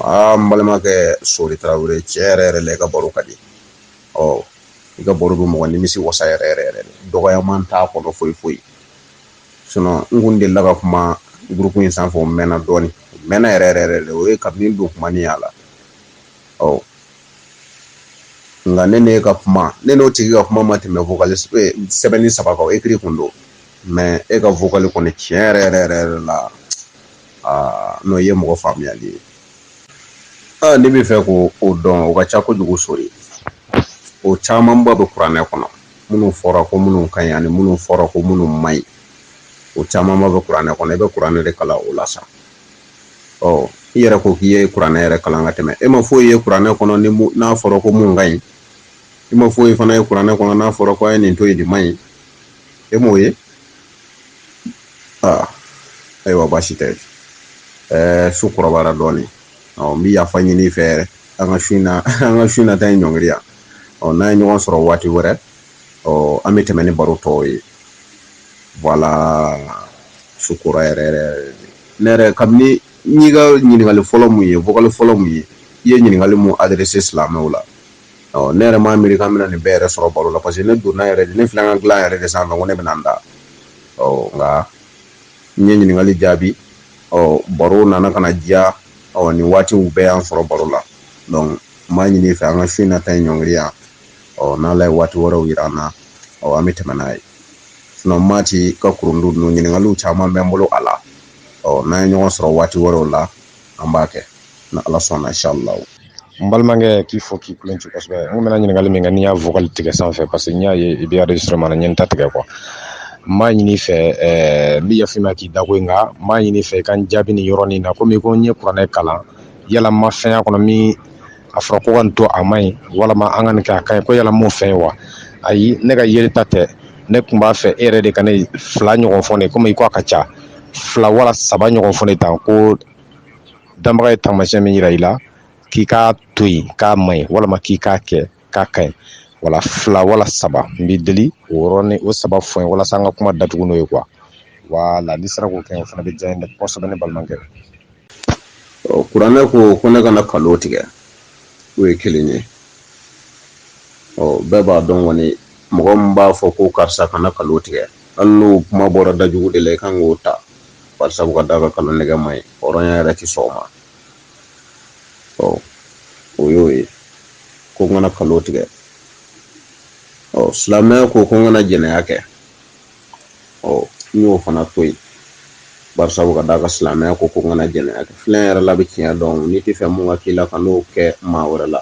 aa n balimakɛ sori tarawele tiɲɛ yɛrɛ yɛrɛ la i ka baro ka di ɔ i ka baro bɛ mɔgɔ nimisi wasa yɛrɛ yɛrɛ yɛrɛ dɔgɔyaman t'a kɔnɔ foyi foyi sinɔn n kun delila ka kuma gurupu in sanfɛ o mɛnna dɔɔnin mɛnna yɛrɛ yɛrɛ yɛrɛ o ye kabini don kuma ni y'a la ɔ nka ne n'e ka kuma ne n'o tigi ka kuma ma tɛmɛ vokali sɛbɛnni saba kan o ekiri kun don mɛ e ka vokali kɔni tiɲɛ yɛrɛ yɛrɛ yɛrɛ yɛrɛ la aa n'o ye mɔgɔ faamuyali ye aa ne b'a fɛ k'o dɔn o ka ca kojugu sori o camanba bɛ kuranɛ kɔnɔ minnu fɔra ko minnu ka ɲi ani minnu fɔra ko minnu man ɲi o camanba bɛ kuranɛ kɔnɔ i bɛ kuranɛ de kalan o la sa ɔ i yɛrɛ ko k'i ye kuranɛ yɛrɛ kalan ka tɛmɛ e ma foyi ye kuranɛ kɔnɔ ni n'a fɔra ko mun ka ɲi i ma foyi fana ye kuranɛ kɔnɔ n'a fɔra ko a ye nin to yen nin man ɲi e m'o ye aa ayiwa baasi tɛ ɛɛ su kɔrɔbayara dɔɔnin ɔ n bɛ yafa ɲini i fɛ yɛrɛ an ka su in na an ka su in na ta in ɲɔngiri yan ɔ n'an ye ɲɔgɔn sɔrɔ waati wɛrɛ ɔ an bɛ tɛmɛ ni baro tɔw ye wala su kora yɛrɛ yɛrɛ ne yɛrɛ kabini n y'i ka ɲininkali fɔlɔ mun ye vokali fɔlɔ mun ye i ye ɲininkali mun adrese silamɛw la ɔ ne yɛrɛ m'a miiri k'an bɛna nin bɛɛ yɛrɛ sɔrɔ baro la parce que ne donna yɛrɛ de ne filɛ n ka dilan yɛrɛ de sanfɛ ko ne bɛna n da ɔ nka n ye ɲininkali jaabi ɔ baro nana ka na diya ɔ nin waatiw bɛɛ y'an sɔrɔ baro la donc n b'a ɲini i fɛ an ka su in na ta in ɲɔngiri yan ɔ n'ala ye waati wɛrɛw yira an na ɔ an bɛ tɛmɛ n'a ye sinɔn maati ka kurundu ninnu ɲininkaliw caman bɛ n bolo a la ɔ n'an ye ɲɔgɔn sɔrɔ waati wɛrɛw la an b'a kɛ n'ala sɔnna inshallah n balimakɛ k'i fo k'i kulunje kosɛbɛ n bɛna ɲininkali min kɛ n'i y'a vocal tigɛ sanfɛ parce que n y'a ye i bɛ enregistrement na n ye n ta tigɛ quoi n b'a ɲini fɛ ɛɛ n bɛ yafa ma k'i dako in nka n b'a ɲini fɛ i ka n jaabi nin yɔrɔnin na komi i ko n ye kuranɛ kalan yala n ma fɛn y'a kɔnɔ min a fɔra ko ka nin to a man ɲi walama an ka nin kɛ a ka ɲi ko yala n m'o fɛn ye wa ayi ne ka yeli ta tɛ ne kun b'a fɛ e yɛrɛ de ka nin fila ɲɔgɔn fɔ n ye komi i ko a ka ca fila wala saba ɲɔgɔn fɔ n ye tan ko danbaga ye taamasiyɛn min yira i la k'i k'a to yen k'a man ɲi walama k'i k'a kɛ k'a ka ɲi wala fila wala saba n b'i deli o yɔrɔnin o saba fɔ n ye walasa an ka kuma datugu n'o ye quoi wala n'i sera k'o kɛ o fana bɛ diya n ye dɛ kosɛbɛ ne balimakɛ kuranɛ ko ko ne kana kalon tigɛ o ye kelen ye ɔ bɛɛ b'a dɔn kɔni mɔgɔ min b'a fɔ ko karisa kana kalon tigɛ hali n'o kuma bɔra da jugu de la i kan k'o ta barisa ka da a kan kalon tigɛ man ɲi hɔrɔnya yɛrɛ tɛ sɔn o ma ɔ o y'o ye ko n kana kalon tigɛ ɔ silamɛya ko ko n kana jɛnɛya kɛ ɔ n y'o fana to yen barisa ka d'a kan silamɛya ko ko n kana jɛnɛya kɛ filɛ yɛrɛ la bɛ tiɲɛ dɔn n'i t'a fɛ mun ka k'i la kan'o kɛ maa wɛrɛ la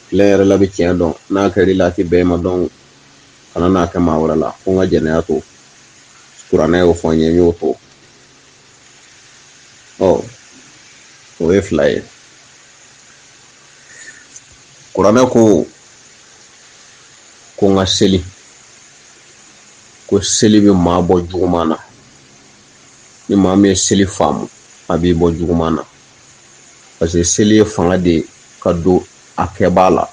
filɛ yɛrɛ la bɛ tiɲɛ dɔn n'a kɛra i la a tɛ bɛn i ma dɔrɔn kana n'a kɛ maa wɛrɛ la ko n ka jɛnɛya to kuranɛ y'o fɔ n ye n y'o to ɔ o ye fila ye kuranɛ ko ko n ka seli ko seli bɛ maa bɔ juguman na ni maa min ye seli faamu a b'i bɔ juguman na parce que seli ye fanga de ye ka don a kɛbaa la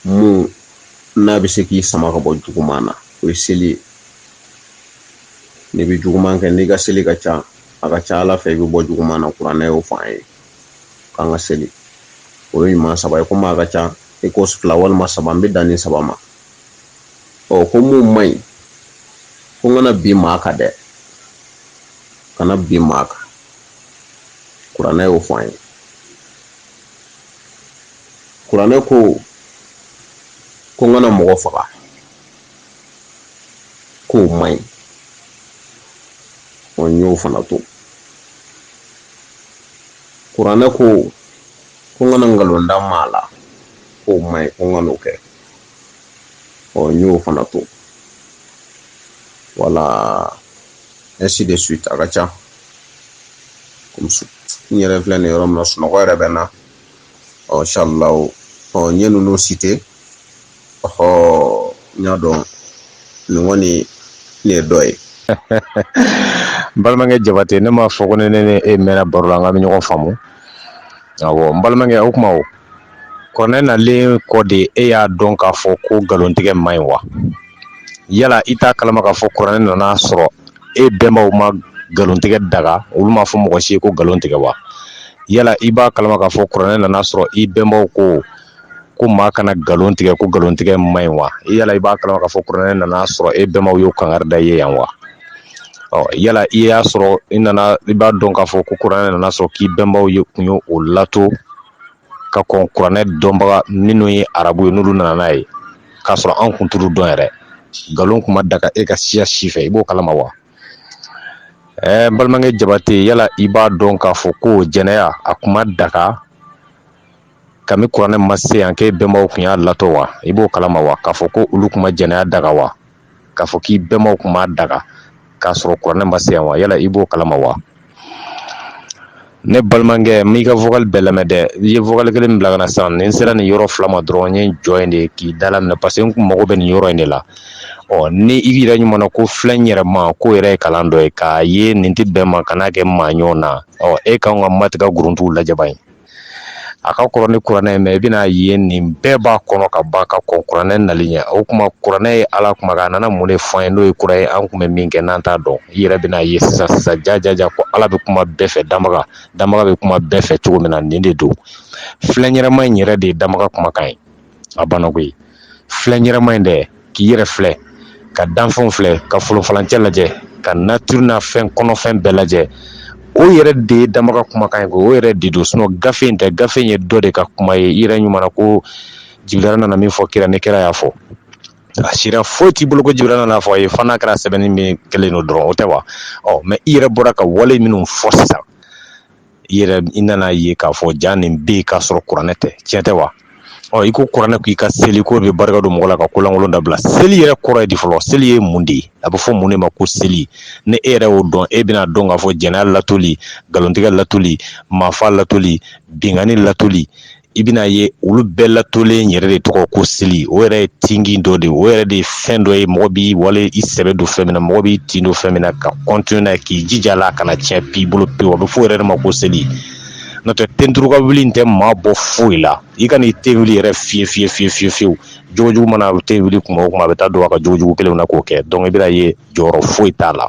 mun n'a bɛ se k'i sama ka bɔ juguman na o ye seli ye n'i bɛ juguman kɛ n'i ka seli ka ca a ka ca ala fɛ i bɛ bɔ juguman na kuranɛ y'o fɔ an ye k'an ka seli o ye ɲuman saba ye komi a ka ca i ko fila walima saba n bɛ dan nin saba ma ɔ ko mun man ɲi ko n kana bin maa kan dɛ kana bin maa kan kuranɛ y'o fɔ an ye kuranɛ ko ko n kana mɔgɔ faga k'o man ɲi ɔ n y'o fana to kuranɛ ko ko n kana nkalon da maa la k'o man ɲi ko n kan'o kɛ ɔ n y'o fana to voilà ainsi de suite a ka ca n yɛrɛ filɛ nin yɔrɔ min na sunɔgɔ yɛrɛ bɛ n na ɔ inshallah ɔ n ye ninnu citer ɔhɔ n y'a dɔn nin kɔni nin ye dɔ ye n balimakɛ jabate ne m'a fɔ ko ne ne e mɛnna baro la an ka bɛ ɲɔgɔn faamu awɔ n balimakɛ o kuma o kuranɛ nalen kɔ de e y'a dɔn k'a fɔ ko nkalontigɛ man ɲi wa yala i t'a kalama k'a fɔ kuranɛ nana sɔrɔ e bɛnbaw ma nkalontigɛ daga olu m'a fɔ mɔgɔ si ye ko nkalon tigɛ wa yala i b'a kalama k'a fɔ kuranɛ nana sɔrɔ i bɛnbaw ko ko maa kana nkalon tigɛ ko nkalontigɛ man ɲi wa yala i b'a kalama k'a fɔ kuranɛ nana sɔrɔ e bɛnbaw y'o kangari da i ye yan wa ɔ yala i y'a sɔrɔ i nana i b'a dɔn k'a fɔ ko kuranɛ nana sɔrɔ k'i bɛnbaw ye kun ye o latɔn ka kɔn kuranɛ dɔnbaga minnu ye arabu ye n'olu nana n'a ye k'a sɔrɔ an kun t'olu dɔn yɛrɛ nkalon kun ma daga e ka siya si fɛ i b'o kalama wa ɛɛ n balimakɛ jabate yala i b'a dɔn k'a fɔ ko jɛnɛya a kun ma daga kami kuranɛ ma se yan k'e bɛnbaw kun y'a latɔn wa i b'o kalama wa k'a fɔ ko olu kun ma jɛnɛya daga wa k'a fɔ k'i bɛnbaw kun m'a daga k'a sɔrɔ kuranɛ ma se yan wa yala i b'o kalama wa ne balimakɛ n m'i ka vocal bɛɛ lamɛn dɛ i ye vocal kelen min bila ka na sisan ni n sera nin yɔrɔ fila ma dɔrɔn n ye n jɔ yen de k'i da laminɛ parce que n kun mago bɛ nin yɔrɔ in de la ɔ ni i yɛrɛ ɲuman na ko filɛ n yɛrɛ ma k'o yɛrɛ ye kalan dɔ ye k'a ye nin tɛ bɛn ma kan'a kɛ maa ɲɔgɔn na ɔ e kan ka matigɛ guruntuw lajɛ ban a ka kɔrɔ ni kuranɛ ye mais i bɛna ye nin bɛɛ b'a kɔnɔ kaban ka kɔn kuranɛ nali ɲɛ o kuma kuranɛ ye ala kuma a nana mun de fɔ an ye n'o ye kura ye an kun bɛ min kɛ n'an t'a dɔn i yɛrɛ bɛna ye sisan sisan jajaja ko ala bɛ kuma bɛɛ fɛ danbaga danbaga bɛ kuma bɛɛ fɛ cogo min na nin de don filɛ n yɛrɛ ma in yɛrɛ de ye danbaga kumakan ye a banna koyi filɛ n yɛrɛ ma in dɛ k'i yɛrɛ filɛ ka danfɛnw filɛ ka folonfalancɛ lajɛ ka nature n'a fɛn kɔnɔfɛn bɛɛ lajɛ o yɛrɛ de ye danbaa ka kumakan ye ko o yɛrɛ de don sinon gafe in tɛ gafe in ye dɔ de ka kuma ye i yɛrɛ ɲuman na ko jibirila nana min fɔ kira ye kira y'a fɔ a sira foyi t'i bolo ko jibirila nana fɔ a ye fo n'a kɛra sɛbɛnni min kɛlen don dɔrɔn o tɛ wa ɔ mais i yɛrɛ bɔra ka wale minnu fɔ sisan i yɛrɛ i nana ye k'a fɔ jaa nin bɛ yen k'a sɔrɔ kuranɛ tɛ tiɲɛ tɛ wa ɔ i ko kuranɛ k'i ka seli k'o bɛ barika don mɔgɔ la ka kolankolon dabila seli yɛrɛ kɔrɔ ye di fɔlɔ seli ye mun de ye a bɛ fɔ mun de ma ko seli ni e yɛrɛ y'o dɔn e bɛna dɔn k'a fɔ jɛnɛya latoli nkalontigɛ latoli maafa latoli binkanni latoli i bɛna ye olu bɛɛ latolen yɛrɛ de tɔgɔ ko seli o yɛrɛ ye tin dɔ de o yɛrɛ de ye fɛn dɔ ye mɔgɔ b'i wale i sɛbɛ don fɛn min na mɔgɔ b'i tin don fɛn min na ka continuer n'a ye k'i jija la kana tiɲɛ b'i bolo pewu a bɛ fɔ o yɛrɛ de ma ko seli n'o tɛ ten turu ka wuli in tɛ maa bɔ foyi la i ka n'i ten wuli yɛrɛ fi fi fi fi fiyewu jogojugu mana ten wuli kuma o kuma a bɛ taa don a ka jogojugu kelen na k'o kɛ donc i bɛna ye jɔyɔrɔ foyi t'a la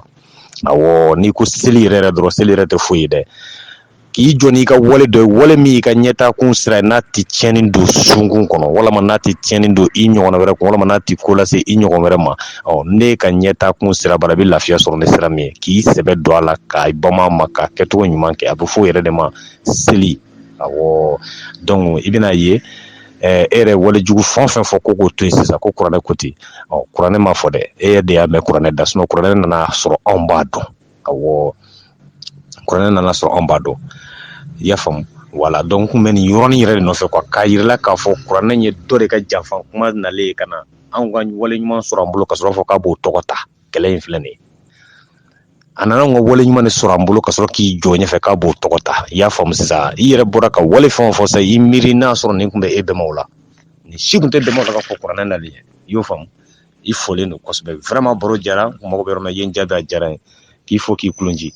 n'i ko seli yɛrɛ dɔrɔn seli yɛrɛ tɛ foyi ye dɛ k'i jɔ n'i ka wale dɔ ye wale min y'i ka ɲɛtaa kun sira ye n'a tɛ tiɲɛnni don sunkun kɔnɔ walima n'a tɛ tiɲɛnni don i ɲɔgɔn wɛrɛ kun walima n'a tɛ ko lase i ɲɔgɔn wɛrɛ ma ɔ n'i ka ɲɛtaa kun sira baara i bɛ lafiya sɔrɔ ni sira min ye k'i sɛbɛ don a la ka banba a ma k'a kɛcogo ɲuman kɛ a bɛ fɔ o yɛrɛ de ma seli awɔ donc i bɛna ye e yɛrɛ walejugu fɛn o fɛn fɔ ko k'o to yen sisan ko kuranɛ ko ten ɔ kuranɛ m'a fɔ dɛ e yɛrɛ de y'a mɛn kuranɛ da kuranɛ nana sɔrɔ anw b'a dɔn awɔ kuranɛ nana sɔrɔ anw b'a dɔn i y'a faamu voilà donc n kun bɛ nin yɔrɔnin yɛrɛ de nɔfɛ quoi k'a yira i la k'a fɔ kuranɛ ye dɔ de ka janfa kuma nalen ka na anw ka wale ɲuman sɔrɔ an bolo ka sɔrɔ fɔ k'a b'o tɔgɔ ta kɛlɛ in filɛ nin ye a nana anw ka wale ɲuman de sɔrɔ an bolo ka sɔrɔ k'i jɔ ɲɛfɛ k'a b'o tɔgɔ ta i y'a faamu sisan i yɛrɛ bɔra ka wale fɛn o fɛn fɔ sisan i miiri n'a sɔrɔ nin kun bɛ e bɛnbaw la nin si kun tɛ bɛnbaw la ka fɔ kuranɛ nalen i y'o faamu i folen don kosɛbɛ vraiment baro jara n mago bɛ yɔrɔ min na i ye n jaabi a diyara n ye k'i fo k'i kulonji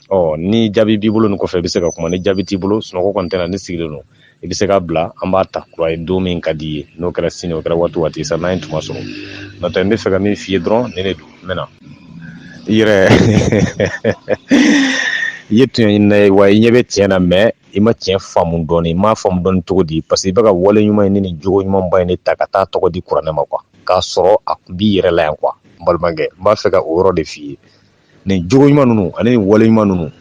ɔ ni jaabi b'i bolo nin kɔfɛ i bɛ se ka kuma ni jaabi t'i bolo sunɔgɔ kɔni tɛna ne sigilen don i bɛ se k'a bila an b'a ta kura ye don min ka di i ye n'o kɛra sini o kɛra waati waati sa n'an ye tuma sɔrɔ n'o tɛ n bɛ fɛ ka min f'i ye dɔrɔn ne de don n bɛna i yɛrɛ i ye tiɲɛ ye wa i ɲɛ bɛ tiɲɛ na mais i ma tiɲɛ faamu dɔɔnin i m'a faamu dɔɔnin cogo di parce que i bɛ ka wale ɲuman ye ni nin jogo ɲumanba in de ta ka taa tɔgɔ di kuranɛ ma quoi k'a sɔrɔ a kun b'i yɛrɛ la yan quoi n balimakɛ n b'a fɛ ka o yɔrɔ de f'i ye nin jogo ɲuman ninnu ani nin wale ɲuman ninnu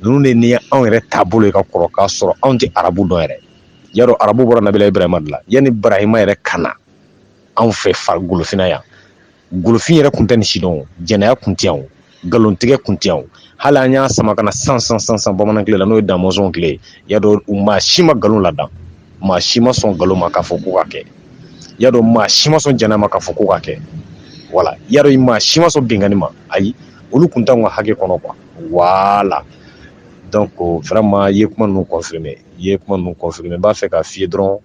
ninnu de ni anw yɛrɛ taabolo ye ka kɔrɔ k'a sɔrɔ anw tɛ arabu dɔn yɛrɛ y'a dɔn arabu bɔra nabila ibrahima de la yanni barahima yɛrɛ ka na anw fɛ golofinna yan golofin yɛrɛ kun tɛ nin si dɔn jɛnɛya kun tɛ yan nkalontigɛ kun tɛ yan hali an y'a sama ka na san bamanan tile la n'o ye damɔnzɔn tile y'a dɔn u maa si ma nkalon lada maa si ma sɔn nkalon ma k'a fɔ ko ka kɛ y'a dɔn maa si ma sɔn jɛnɛya ma k'a fɔ ko ka kɛ wala y'a dɔn maa si ma sɔn binkanni ma ayi olu kun t'an ka hakɛ kɔnɔ quoi voilà donc vraiment i ye kuma ninnu kɔfi i ye kuma ninnu confirmer n b'a fɛ k'a f'i ye dɔrɔn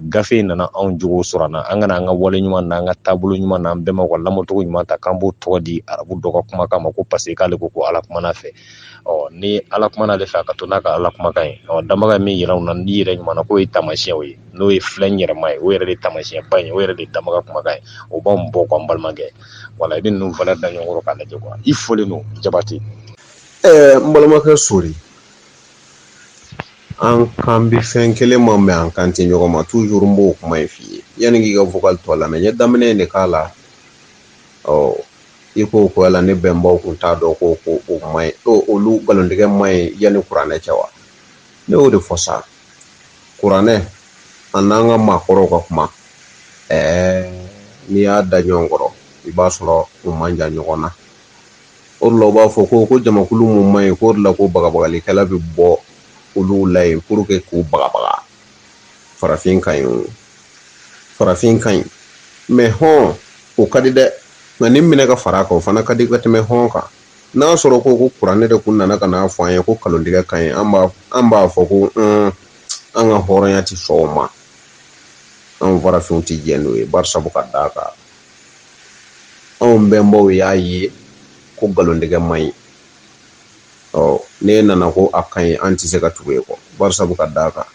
gafe in nana anw jogo sɔrɔ an na an kana an ka wale ɲuman n'an ka taabolo ɲuman n'an bɛnbaw ka lamɔcogo ɲuman ta k'an b'o tɔgɔ di arabu dɔ ka kumakan ma ko parce que k'ale ko ko ala kumana a fɛ ɔ ni ala kumana ale fɛ a ka to n'a ka ala kumakan ye ɔ danbaga ye min yira an na n' yɛrɛ ɲuman na k'o ye taamasiyɛnw ye n'o ye filɛ yɛrɛma ye o yɛrɛ de ye taamasiyɛnba ye o yɛrɛ de ye danbaga kumakan ye o b'an bɔ quoi n balimakɛ wala i bɛ ninnu fana da ɲɔgɔn kɔrɔ k'a lajɛ i folen don jabate ɛɛ n balimakɛ sori An kan bɛ fɛn kelen ma mais an kan tɛ ɲɔgɔn ma toujours n b'o kuma in f'i ye yanni k'i ka vocal tɔ lamɛn n ye daminɛ in de k'a la ɔ i ko ko yala ne bɛnbaw kun t'a dɔn ko ko o man ɲi olu nkalontigɛ man ɲi yanni kuranɛ cɛ wa ne y'o de fɔ sa kuranɛ a n'an ka maakɔrɔw ka kuma ɛɛ n'i y'a da ɲɔgɔn kɔrɔ i b'a sɔrɔ u man jan ɲɔgɔn na o de la u b'a fɔ ko ko jamakulu minnu man ɲi k'o de la ko bagabagalikɛla bɛ bɔ olu la yen pour que k'u bagabaga farafin ka ɲi farafin ka ɲi mais hɔn o ka di dɛ nka nin minɛ ka fara a kan o fana ka di ka tɛmɛ hɔn kan n'a sɔrɔ ko ko kuranɛ de kun nana ka n'a fɔ an ye ko nkalontigɛ ka ɲi an b'a an b'a fɔ ko an ka hɔrɔnya tɛ sɔn o ma an farafinw tɛ jɛ n'o ye bari sabu ka d'a kan anw bɛnbaw y'a ye ko nkalontigɛ man ɲi ɔ n'e nana ko a ka ɲi an tɛ se ka tugu e kɔ bari sabu ka d'a kan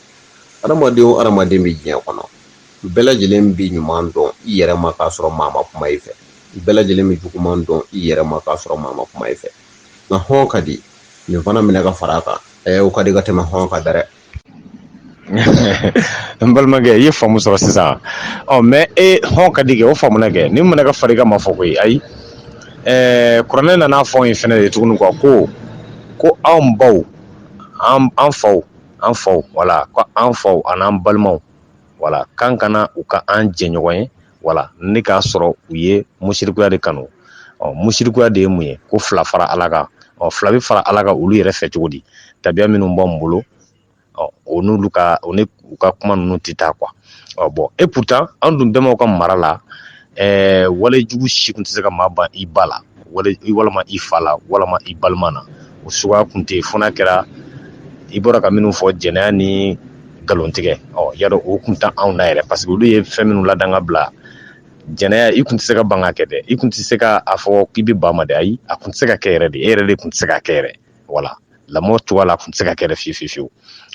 adamaden o adamaden bɛ diɲɛ kɔnɔ bɛɛ lajɛlen bɛ ɲuman dɔn i yɛrɛ ma k'a sɔrɔ maa ma kuma i fɛ bɛɛ lajɛlen bɛ juguman dɔn i yɛrɛ ma k'a sɔrɔ maa ma kuma i fɛ nka hɔn ka di nin fana minɛ ka fara a kan ɛ o ka di ka tɛmɛ hɔn kan dɛ n balimakɛ i ye faamu sɔrɔ sisan ɔ mais e hɔn ka di kɛ o faamuna kɛ ni mana ka fari ka ma fɔ koyi ayi ɛɛ kuranɛ nana fɔ in fɛnɛ de tuguni quoi ko anw baw an faw an faw wala ko an faw ani'an balimaw wala k'an kana u kɛ an jɛɲɔgɔn ye wala ne k'a sɔrɔ u ye musirikuya de kanu ɔ musirikuya de ye mun ye ko fila fara ala kan ɔ fila bɛ fara ala kan olu yɛrɛ fɛ cogo di tabiya minnu b'an bolo ɔ o n'olu ka o ni u ka kuma ninnu tɛ taa quoi ɔ bon et pourtant an dun bɛmaw ka mara la ɛɛ wale jugu si kun tɛ se ka maa ban i ba la walama i fa la walama i balima na o suguya kun tɛ fo n'a kɛra i bɔra ka minnu fɔ jɛnɛya ni nkalontigɛya o kun tɛ anw na yɛrɛ parce que olu ye fɛn minnu ladan ka bila jɛnɛya i kun tɛ se ka ban ka kɛ dɛ i kun tɛ se ka a fɔ k'i bɛ ban ma dɛ ayi a kun tɛ se ka kɛ yɛrɛ de e yɛrɛ de kun tɛ se ka kɛ yɛrɛ voilà lamɔ cogoya la a kun tɛ se ka kɛ fiye fiye fiyewu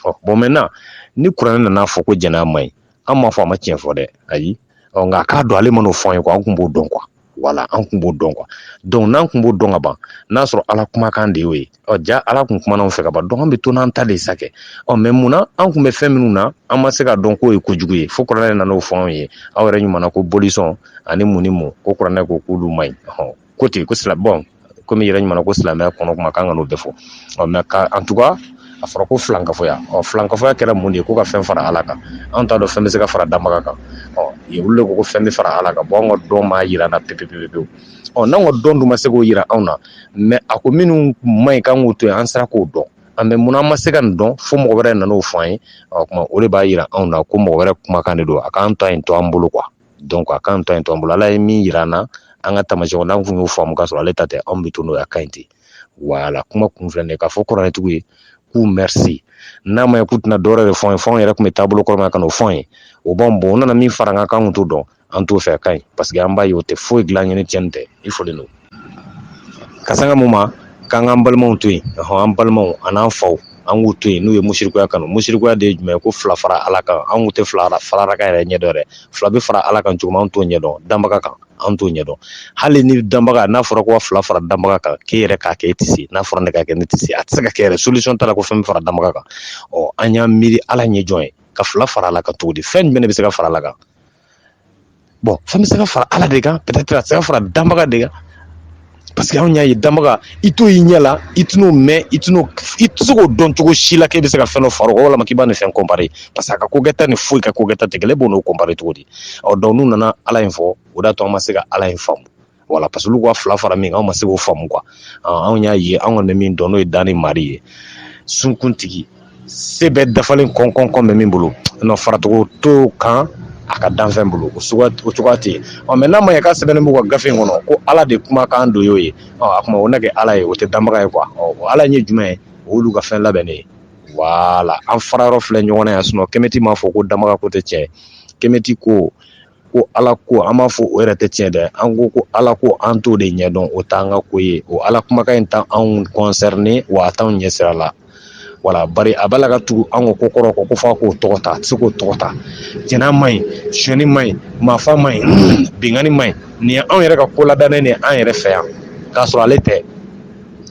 ɔ bon maintenant ni kuranɛ nana fɔ ko jɛnɛya man ɲi an m'a fɔ a ma tiɲɛ fɔ dɛ ayi ɔ nka k'a dɔn ale ma n'o fɔ an ye quoi an kun b'o dɔn quoi voilà an kun b'o dɔn quoi donc n'an kun b'o dɔn ka ban n'a sɔrɔ ala kumakan de y'o ye ɔ ja ala kun kumana anw fɛ ka ban donc an bɛ to n'an ta de sa kɛ ɔ mais mun na an kun bɛ fɛn minnu na an ma se ka dɔn k'o ye kojugu ye fo kuranɛ nana o fɔ anw ye aw yɛrɛ ɲumanna ko bolisɔn ani mun ni mun ko kuranɛ ko k'olu man ɲi ko ten yen ko sirabon kɔmi yɛrɛ ɲumanna ko silamɛya kɔnɔ kuma kan n'o bɛɛ fɔ mais en tout cas a fɔra ko filankafoya ɔ filankafoya kɛra mun de ye ko ka fɛn fara ala kan an t'a dɔn fɛn bɛ se ka fara danbaga kan olu de ko fɛn bɛ fara ala kan bon an ka dɔn m'a jira an na pepepewu ɔ n'an ka dɔn dun ma se k'o jira anw na mais a ko minnu man ɲi k'an k'o to yen an sera k'o dɔn mais munna an ma se ka nin dɔn fo mɔgɔ wɛrɛ nana o fɔ an ye o de b'a jira anw na ko mɔgɔ wɛrɛ kumakan de don a k'an ta in to an bolo quoi donc a k'an ta in to an bolo ala ye min yira an na an ka taamasiyɛnw n'an kun y'o faamu k'a sɔrɔ ale ta tɛ anw bɛ to n'o ye a ka ɲi ten voilà kuma kun filɛ nin ye k'a fɔ kuranɛtigiw ye k'u merci n'a ma ye k'u tɛna dɔwɛrɛ de fɔ an ye fo anw yɛrɛ kun bɛ taabolo kɔrɔ min na ka n'o fɔ an ye o b'an bon u nana min fara an kan k'an kun t'o dɔn an t'o fɛ a ka ɲi parce que an b'a ye o tɛ foyi dilan an ye ni tiɲɛni tɛ i fɔlen don Ka saŋa mun ma k'an k'an balimaw to yen ɔnhɔn an balimaw an'an faw an ŋ'u to yen n'u ye musirikuya kanu musirikuya de ye jumɛn ye ko fila fara Ala kan an ŋun te fila ara fara Ala kan yɛrɛ ɲɛ dɔn dɛ fila be fara Ala kan cogo min an t'o ɲɛ dɔn danbaga kan an t'o ɲɛ dɔn hali ni danbaga n'a fɔra ko ka fila fara danbaga kan k'e yɛrɛ k'a kɛ e ti se n'a fɔra ne k'a kɛ ne ti se a ti se ka kɛ yɛrɛ solution t'a la ko fɛn be fara danbaga kan ɔ an y'an miiri Ala ye jɔn ye ka fila fara Ala kan cogo di fɛn jumɛn de be se ka fara Ala kan bon fɛn bɛ se ka fara ala de kan peut-être a tɛ se ka fara danbaga de kan parce que anw y'a ye danbaga i t'o y'i ɲɛ la i t'o mɛn i i tɛ se k'o dɔn cogo si la k'e bɛ se ka fɛn dɔ fara o kan walama k'i b'a ni fɛn comparer parce que a ka kokɛta ni foyi ka kokɛta tɛ kelen e b'o n'o comparer cogo di ɔ donc n'u nana ala in fɔ o d'a to an ma se ka ala in faamu voilà parce que olu ka fila fara min kan anw ma se k'o faamu quoi anw y'a ye anw kɔni bɛ min dɔn n'o ye dan ni mari ye sunkuntigi se bɛɛ dafalen kɔnkɔnkɔn bɛ min bolo dɔ faracogo t'o kan a ka danfɛn bolo o cogoya tɛ yen ɔ mais n'a ma ye k'a sɛbɛnnen b'u ka gafe in kɔnɔ ko ala de kumakan don y'o ye a kuma o na kɛ ala ye o tɛ danbaga ye quoi ɔ ala ye jumɛn ye o y'olu ka fɛn labɛnnen ye voilà an fara yɔrɔ filɛ ɲɔgɔn na yan sinon kɛmɛti m'a fɔ ko danbaga ko tɛ tiɲɛ kɛmɛti ko ko ala ko an m'a fɔ o yɛrɛ tɛ tiɲɛ dɛ an ko ko ala ko an t'o de ɲɛdɔn o t'an ka ko ye o ala kumakan in t'anw concerner wa a t'anw ɲɛsira la voilà bari a b'a la ka tugu an ka ko kɔrɔ ko kɔfɛ k'o tɔgɔ ta a tɛ se k'o tɔgɔ ta jɛnɛ man ɲi sonyani man ɲi maafa man ɲi binkanni man ɲi nin ye anw yɛrɛ ka ko ladannen de an yɛrɛ fɛ yan k'a sɔrɔ ale tɛ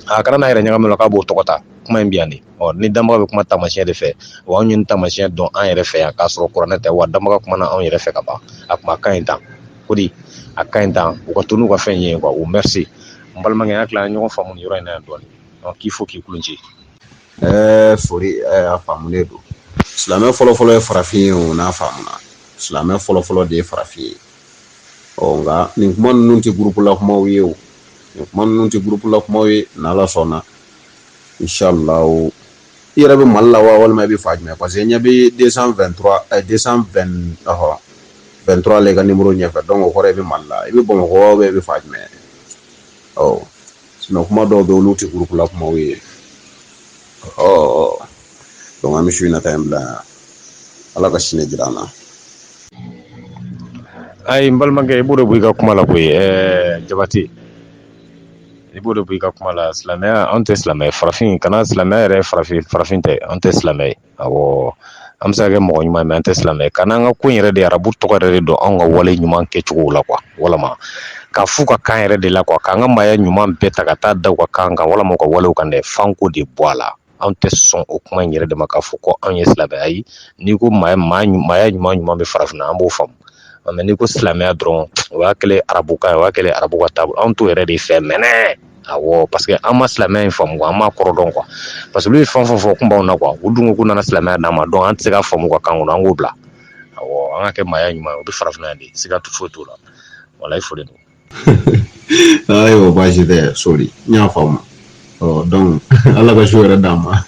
a kana n'a yɛrɛ ɲagami a la k'a b'o tɔgɔ ta kuma in bɛ yan de ɔ ni danbaga bɛ kuma taamasiyɛn de fɛ wa anw ye taamasiyɛn dɔn an yɛrɛ fɛ yan k'a sɔrɔ kuranɛ tɛ wa danbaga kumana anw yɛrɛ fɛ ka ban a kuma ka ɲi tan ko di a ka ɲi tan u ka to n'u ka fɛn ye quoi o merci n balimakɛ n hakili la an ye ɲɔgɔn faamu yɔrɔ in na yan dɔɔni ɔ k'i fo k'i kulon ci ɛɛ sori a faamulen don silamɛ fɔlɔfɔlɔ ye farafin ye o n'a faamuna silamɛ fɔlɔfɔlɔ de ye farafin ye ɔ nka nin kuma ninnu tɛ gurupula kumaw ye o nin kuma ninnu tɛ gurupula kumaw ye n'ala sɔnna inshallah i yɛrɛ bɛ mali la wa walima i bɛ fan jumɛn parce que n ɲɛ bɛ 223 eh, 220 ɔhɔ 23 la i ka nimɔrɔ ɲɛfɛ donc o kɔrɔ i bɛ mali la i bɛ bamakɔ wa i bɛ fan jumɛn ɔ sinon kuma dɔw bɛ olu tɛ gurupula kumaw ye ɔ donc an bɛ su in na ta in bila yan ala ka sini jira an na ayi n balimakɛ i b'o de bɔ i ka kuma la koyi ɛɛ jabate I b'o de bɔ i ka kuma la silamɛya an tɛ silamɛ farafin kana silamɛya yɛrɛ farafin farafin tɛ an tɛ silamɛ awɔ an bɛ se ka kɛ mɔgɔ ɲuman mais an tɛ silamɛ kana an ka ko yɛrɛ de arabu tɔgɔ yɛrɛ de don an ka wale ɲuman kɛcogo la quoi walima k'a fɔ u ka kan yɛrɛ de la quoi k'an ka maaya ɲuman bɛɛ ta ka taa da u ka kan kan walima u ka wale kan dɛ f'an k'o de bɔ a la anw tɛ sɔn o kuma in yɛrɛ de ma k'a fɔ ko anw ye silamɛ ayi n'i ko maaya ɲuman ɲuman bɛ farafinna an b'o faamu mais n'i ko silamɛya dɔrɔn o y'a kɛlen arabukan o y'a kɛlen arabu ka taabolo anw t'o yɛrɛ de fɛ mɛnɛ awɔ parce que an ma silamɛya in faamu an m'a kɔrɔ dɔn quoi parce que olu ye fɛn fɛn fɔ kun b'anw na quoi u dun ko k'u nana silamɛya d'an ma donc an tɛ se k'a faamu u ka kan kɔnɔ an k'o bila awɔ an ka kɛ maaya ɲuman ye o bɛ farafinna yan de siga foyi t'o la voilà i foli don ayiwa baasi tɛ sori n y'a faamu ɔ donc ala ka su hɛrɛ d'an ma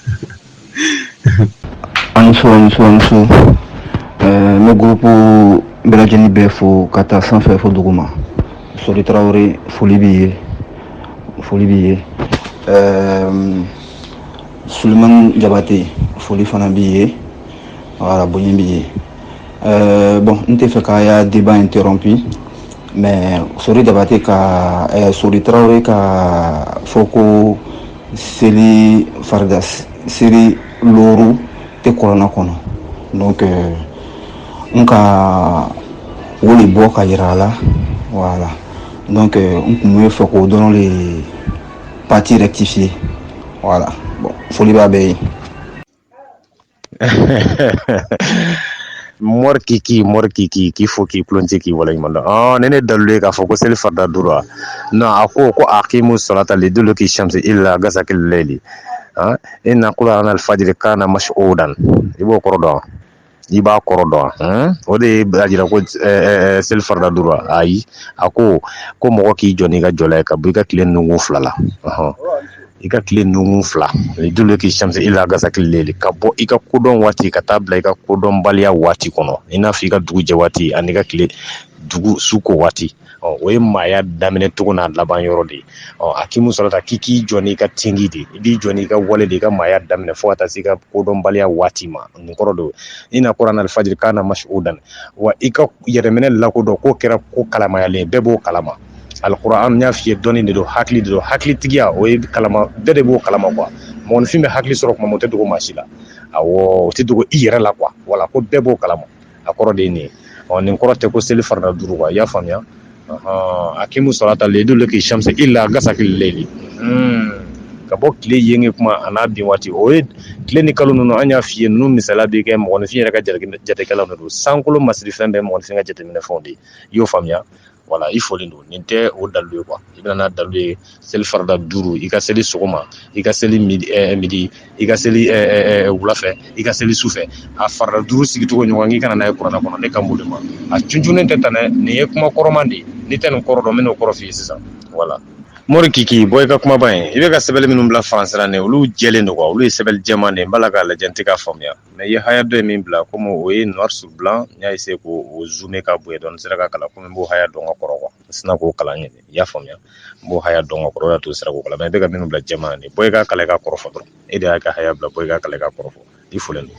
an ni sɔrɔ ni sɔrɔ ni sɔrɔ n bɛ gurupu bɛɛ lajɛlen bɛɛ fo k'a ta sanfɛ fo duguma sori tarawele foli b'i ye foli b'i ye sulemani jabate foli fana b'i ye voilà bonya b'i ye Euh, bon n tɛ fɛ k'a ya débat interrompu mais sori jabate ka eh, sori tarawele k'a fɔ ko seli farida seli looru tɛ kɔrana kɔnɔ donc euh, n ka o de bɔ k'a yira a la voilà donc euh, n tun bɛ fɛ k'o dɔrɔn de partie rectifier voilà bon foli b'a bɛɛ ye mori kiki mori kiki k'i fo k'i kulunje k'i waleɲuman dɔn ɔn nin ye dalu ye k'a fɔ ko seli farida duuru wa non a ko ko aqimu salata liduluki shamsi illa gasakil layli an inna qur'ana alfajiri kana mash'udan i b'o kɔrɔ dɔn i b'a kɔrɔ dɔn an o de y'a jira ko seli farida duuru wa ayi a ko ko mɔgɔ k'i jɔ n'i ka jɔla ye ka bɔ i ka tile nungu fila la i ka tile nungu fila liduluki shamsi illa gasakil layli ka bɔ i ka kodɔn waati ka taa bila i ka kodɔnbaliya waati kɔnɔ i n'a fɔ i ka dugu jɛ waati an'i ka tile dugu suko waati ɔ o ye maaya daminɛ cogo n'a laban yɔrɔ de ye ɔ aqimu salata k'i k'i jɔ n'i ka tingi de i b'i jɔ n'i ka wale de i ka maaya daminɛ fo ka taa se i ka kodɔnbaliya waati ma nin kɔrɔ don inna qur'ana alfajiri kana mash'udan wa i ka yɛrɛminɛ lakodɔn k'o kɛra ko kalamayalen bɛɛ b'o kalama alkuran n y'a f'i ye dɔnni de don hakili de don hakilitigiya o ye kalama bɛɛ de b'o kalama quoi mɔgɔninfin bɛ hakili sɔrɔ kuma o tɛ dogo maa si la a o tɛ dogo i yɛrɛ la quoi voilà ko bɛɛ b'o kalama a kɔrɔ de ye nin ye ɔ nin kɔrɔ tɛ ko seli farada duuru quoi i y'a faamuya aqimu salata liduluki shamsi illa gasakil layli ka bɔ tile jɛngɛ kuma a n'a bin waati o ye tile ni kalo ninnu an y'a f'i ye ninnu misaliya bɛ kɛ mɔgɔninfin yɛrɛ ka jatekɛlanw de don sankolo masiri fɛn bɛɛ mɔgɔninfin ka jateminɛ fɛnw de ye i y'o faamuya voilà i folen don nin tɛ o dalu ye quoi i bɛ na n'a dalu ye seli farida duuru i ka seli sɔgɔma i ka seli midi i ka seli wulafɛ i ka seli sufɛ a farida duuru sigicogo ɲɔgɔn k'i ka na n'a ye kuranɛ kɔnɔ ne kan b'o de ma a cuncunnen tɛ tan nin ye kuma kɔrɔma de ye n'i tɛ nin kɔrɔ dɔn n bɛ nin kɔrɔ f'i ye sisan voilà mori kiki bon i ka kumaba in i bɛ ka sɛbɛnni minnu bila faransi ra nin olu jɛlen don quoi olu ye sɛbɛnni jɛman de n b'a la k'a lajɛ n tɛ k'a faamuya mais i ye haya dɔ min bila komi o ye noir sur blanc n y'a essayer k'o zoomer ka bonya dɔɔni n sera k'a kalan komi n b'o haya dɔn ka kɔrɔ quoi n sina k'o kalan ɲɛ i y'a faamuya n b'o haya dɔn ka kɔrɔ o y'a to n sera k'o kalan mais i bɛ ka minnu bila jɛman nin bon i k'a kalan i k'a kɔrɔ fɔ dɔrɔn e de y'a ka haya bila bon i k'a kalan i k'a kɔrɔ fɔ i folen don